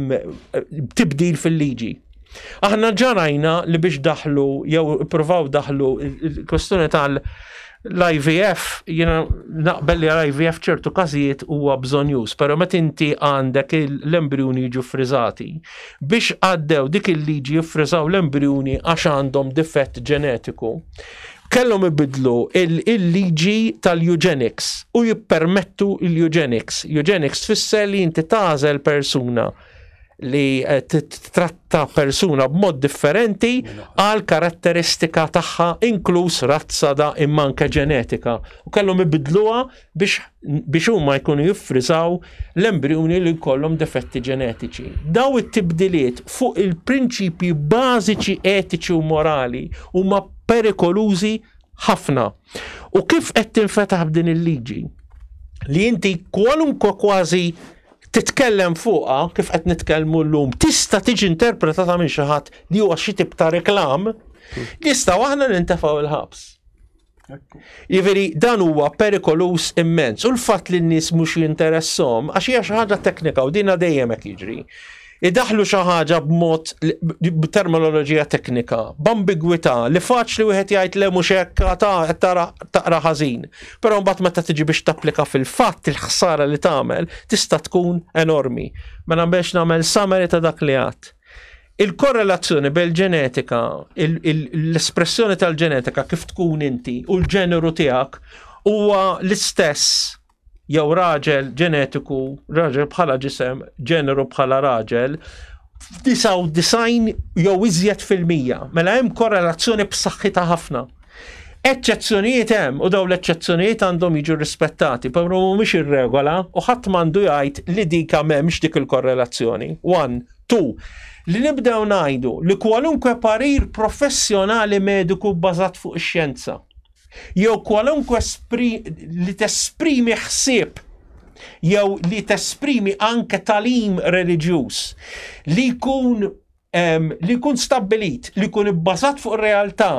C: tibdil fil-liġi. Aħna ġarajna li biex daħlu, jew provaw daħlu il-kwestjoni tal- l-IVF, jina naqbel li l-IVF ċertu kazijiet huwa bżonjus, pero met inti għandek l-embrjuni jiġu frizzati. Biex għaddew dik il-liġi jiffrizaw l-embrjuni għax għandhom difett ġenetiku. Kellhom ibiddlu l-liġi tal-eugenics u jippermettu l-eugenics. Eugenics tfisser li inti tagħżel persuna li eh, titratta persuna b'mod differenti għal karatteristika tagħha inkluż razza da imma anke ġenetika. U kellhom ibidluha biex huma jkunu jiffriżaw l-embrijuni li jkollhom defetti ġenetiċi. Daw it-tibdiliet fuq il-prinċipji bażiċi etiċi u morali huma perikolużi ħafna. U kif qed tinfetaħ b'din il-liġi? Li inti kwalunkwe kważi titkellem fuqha kif qed nitkellmu llum tista' tiġi interpretata minn xi ħadd li huwa xi tip ta' reklam, nistgħu aħna nintefgħu l-ħabs. Jiveri, dan huwa perikolus immens. U l-fat li n-nis mux jinteressom, għax hija xi ħaġa teknika u dina dejjem qed jiġri. Idaħlu xi ħaġa b'mod b'terminoloġija teknika, b'ambigwità li faċli wieħed jgħid le mhux hekk ta' qed taqra ħażin. Però mbagħad meta tiġi biex tapplika fil-fatt il-ħsara li tagħmel tista' tkun enormi. Mela biex nagħmel summary ta' dak li għad. Il-korrelazzjoni bejn ġenetika, l-espressjoni tal-ġenetika kif tkun inti u l-ġeneru tiegħek huwa l-istess jew raġel ġenetiku, raġel bħala ġisem, ġeneru bħala raġel, f'99 jew iżjed fil-mija. Mela hemm korrelazzjoni b'saħħitha ħafna. Eċċezzjonijiet hemm u daw l-eċċezzjonijiet għandhom jiġu rispettati, però mhumiex ir-regola u ħadd m'għandu jgħid li dika m'hemmx dik il-korrelazzjoni. One, Tu, li nibdew ngħidu li kwalunkwe parir professjonali mediku bbażat fuq ix-xjenza jew kwalunkwe li tesprimi ħsieb jew li tesprimi anke talim reliġjuż li jkun li jkun stabbilit li jkun ibbażat fuq realtà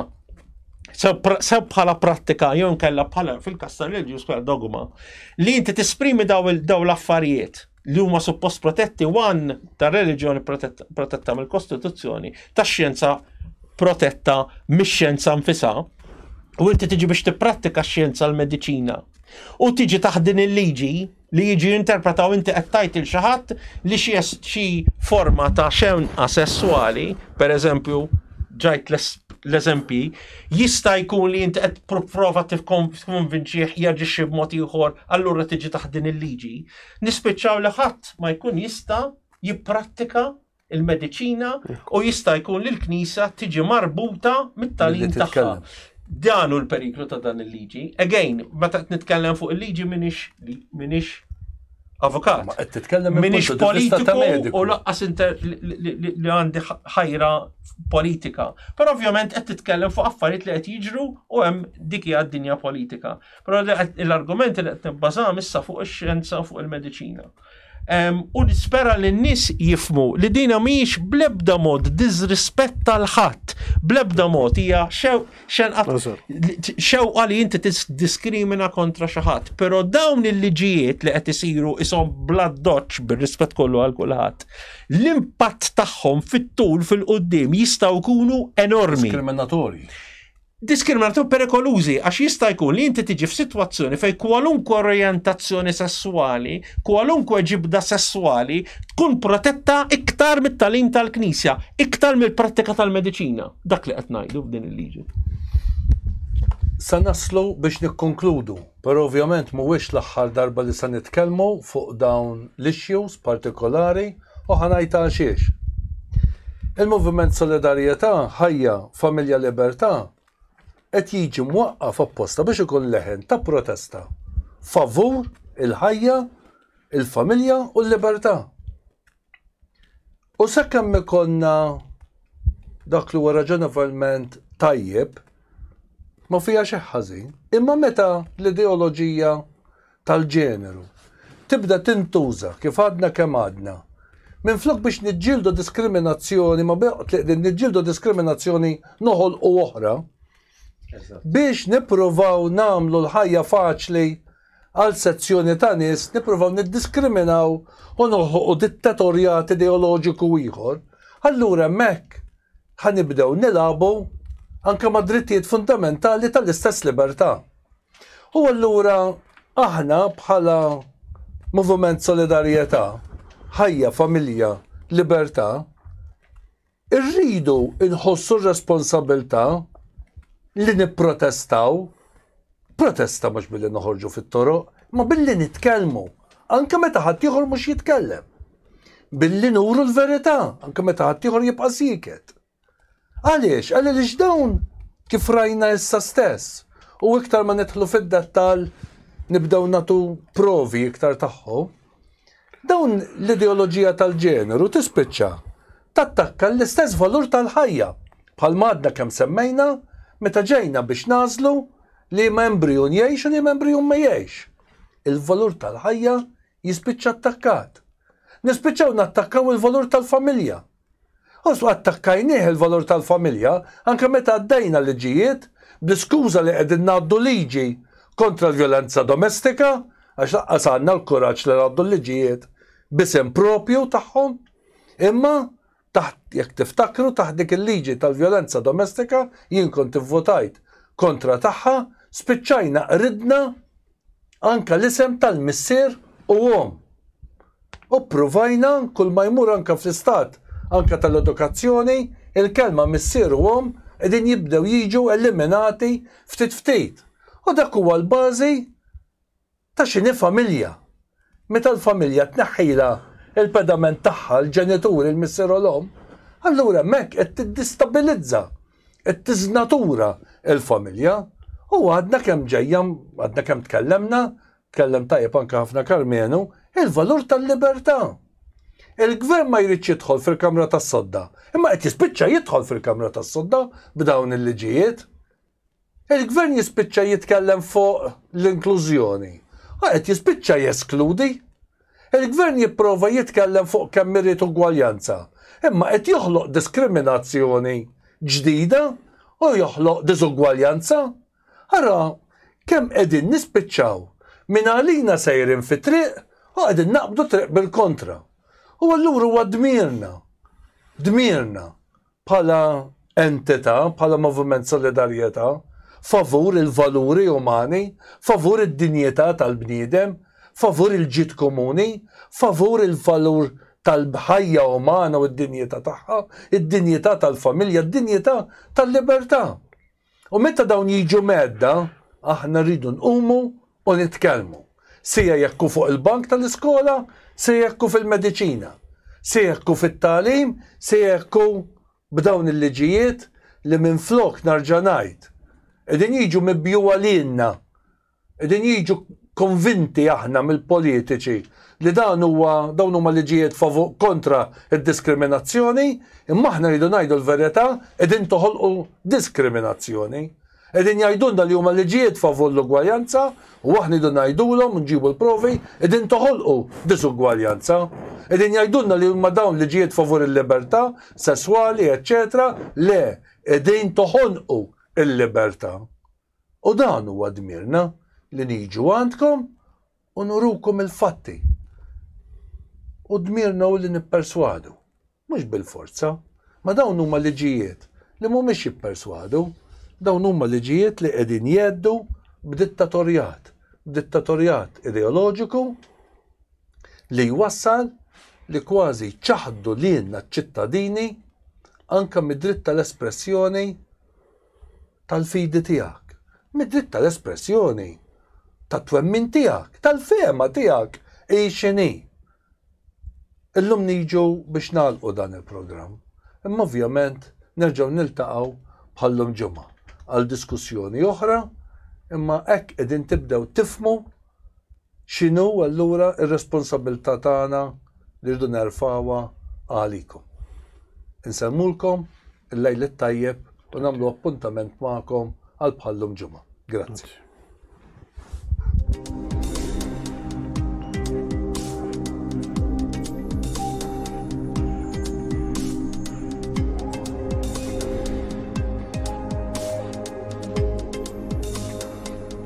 C: sew bħala prattika jew nkella bħala fil-kas tal-reliġjuż bħala dogma li inti tesprimi daw l-affarijiet li huma suppost protetti wan ta' reliġjoni protetta mill-Kostituzzjoni, ta' xjenza protetta mix-xjenza nfisa, u inti tiġi biex tipprattika x-xjenza l-mediċina. U tiġi taħt din il-liġi li jiġi interpretaw inti qed tajt il xaħat li xi xi forma ta' xenqa sessuali, per eżempju, ġajt l-eżempji, jista' jkun li inti qed prova tifkonvinċih jaġixxi b'mod ieħor, allura tiġi taħt din il-liġi. Nispiċċaw li ħadd ma jkun jista' jipprattika il-mediċina u jista' jkun li l-Knisja tiġi marbuta mit-talim tagħha. Dan hu l-periklu ta' dan il-liġi. Again, meta qed nitkellem fuq il-liġi minix minix avukat. Minix politiku u laqqas li għandi ħajra politika. Però ovvjament qed titkellem fuq affarijiet li qed jiġru u hemm dik hija d-dinja politika. Però l-argumenti li qed nibbażam issa fuq ix-xjenza u fuq il-mediċina. U nispera li n-nies jifmu li dina mhijiex blebda mod diżrispetta l-ħadd, blebda mod hija xewqa li inti diskrimina kontra xi ħadd, però dawn il-liġijiet li qed isiru ishom bla doċċ bir-rispett kollu għal kulħadd, l-impatt tagħhom fit-tul fil-quddiem jistgħu jkunu enormi. Diskriminatorji. Diskriminatorji u perikolużi għax jista' jkun li inti tiġi f'sitwazzjoni fejn kwalunkwe orjentazzjoni sesswali, kwalunkwe ġibda sesswali tkun protetta iktar mit-tagħlim tal-Knisja, iktar mill-prattika tal-mediċina. Dak li qed ngħidu f'din il-liġi.
A: Sa naslu biex nikkonkludu. Però ovvjament mhuwiex l-aħħar darba li se nitkellmu fuq dawn l-issues partikolari u ħa ngħid għalxiex. Il-Moviment Solidarjetà, Ħajja, Familja Libertà qed jiġi mwaqqaf apposta biex ikun leħen ta' protesta favur il-ħajja, il-familja u l-libertà. U sakemm ikonna dak li huwa raġonevolment tajjeb, ma fija xi ħażin. Imma meta l-ideoloġija tal-ġeneru tibda tintuża kif għadna kemm għadna, minn flok biex niġġieldu diskriminazzjoni, ma niġġieldu diskriminazzjoni noħol u oħra, biex nippruvaw namlu l-ħajja faċli għal sezzjoni ta' nies nippruvaw niddiskriminaw u noħolqu dittatorjat ideoloġiku ieħor, allura hemmhekk ħa nibdew nilagħbu anke mad-drittijiet fundamentali tal-istess libertà. U allura aħna bħala Moviment Solidarjetà, Ħajja, Familja, Libertà, Irridu nħossu r-responsabbiltà li nipprotestaw, protesta mhux billi noħorġu fit-toroq, imma billi nitkellmu, anke meta ħaddieħor mhux jitkellem. Billi nuru l-verità, anke meta ħaddieħor jibqa' sieket. Għaliex? Għaliex dawn kif rajna issa stess, u iktar ma nidħlu fid-dettall nibdew nagħtu provi iktar tagħhom, Dawn l-ideoloġija tal-ġeneru tispiċċa tattakka l-istess valur tal-ħajja, bħalma għadna kemm semmejna meta ġejna biex nagħżlu liema embrijun jgħix u liema embrijun ma jgħixx. Il-valur tal-ħajja jispiċċa attakkat. Nispiċċaw nattakkaw il-valur tal-familja, Osma attakkajnieh il-valur tal-familja anke meta għaddejna liġijiet bl-iskuża li qegħdin ngħaddu liġi kontra l-vjolenza domestika għax lanqas għandna l-kuraġġ li ngħaddu l-liġijiet b'isem proprju tagħhom imma taħt jekk tiftakru taħt dik il-liġi tal-vjolenza domestika jien kont ivvutajt kontra tagħha spiċċajna qridna anka l-isem tal-missier u omm. U ppruvajna kull ma jmur anka fl-istat anka tal-edukazzjoni, il-kelma missier u omm qegħdin jibdew jiġu eliminati ftit ftit. U dak huwa l-bażi ta' x'inhi familja. Meta l-familja tneħħilha l-pedament tagħha, l-ġenitur, il-missier u l-omm, allura hemmhekk qed tiddistabilizza Qed tiżnatura l-familja u għadna kemm ġejja, għadna kemm tkellemna, tkellem tajjeb anke ħafna Karmenu, il-valur tal-libertà. Il-gvern ma jridx jidħol fil-kamra tas-sodda, imma qed jispiċċa jidħol fil-kamra tas-sodda b'dawn il-liġijiet. Il-Gvern jispiċċa jitkellem fuq l-inklużjoni u qed jispiċċa jeskludi. Il-Gvern jipprova jitkellem fuq kemm irid ugwaljanza, imma qed joħloq diskriminazzjoni ġdida u joħloq diżugwaljanza. Ara kemm qegħdin nispiċċaw minn għalina sejrin fi triq u qegħdin naqbdu triq bil-kontra. U allura huwa dmirna, dmirna bħala entità, bħala moviment solidarjetà, favur il-valuri umani, favur id-dinjità tal-bniedem, favur il-ġid komuni, favur il-valur tal-ħajja umana u d-dinjità tagħha, id-dinjità tal-familja, d-dinjità tal-libertà. U meta dawn jiġu mhedda, aħna rridu nqumu u nitkellmu, sia jekk hu fuq il-bank tal-iskola, sia jekk hu fil-mediċina, sia jekk hu fit-tagħlim, sia jekk hu b'dawn il-liġijiet li minflok narġa' ngħid, qegħdin jiġu mibjugħa lilna Qegħdin jiġu konvinti aħna mill-politiċi li dan huwa dawn huma liġijiet favu kontra d-diskriminazzjoni, imma aħna rridu ngħidu l-verità qegħdin toħolqu diskriminazzjoni. Qegħdin jgħidulna li huma liġijiet favur l-ugwaljanza u aħna rridu ngħidulhom nġibu l-provi qegħdin toħolqu diżugwaljanza. Qegħdin jgħidulna li huma dawn liġijiet favur il-libertà sesswali, eċċetera, le qegħdin toħonqu il-libertà. U dan huwa dmirna, li niġu għandkom u nurukom il-fatti. U dmirna hu li nipperswadu, mhux bil-forza. Ma dawn huma liġijiet li mhumiex jipperswadu, dawn huma liġijiet li qegħdin jgħeddu b'dittatorjat, b'dittatorjat ideoloġiku li jwassal li kważi jċaħħdu lilna ċ-ċittadini anke mid-dritt tal-espressjoni, tal-fidi tiegħek, mid-dritt tal-espressjoni tat-twemmin tiegħek, tal-fehma tiegħek hi x'inhi. Illum niġu biex nagħlqu dan il-programm, imma ovvjament nerġgħu niltaqgħu bħallum ġimgħa għal diskussjoni oħra, imma hekk qegħdin tibdew tifmu X'inhu allura r-responsabbiltà tagħna li rridu nerfgħuha għalikom? Insellmulkom il-Lejl it-Tajjeb u nagħmlu appuntament magħkom għal bħal-lum Ġimgħa. Grazzi.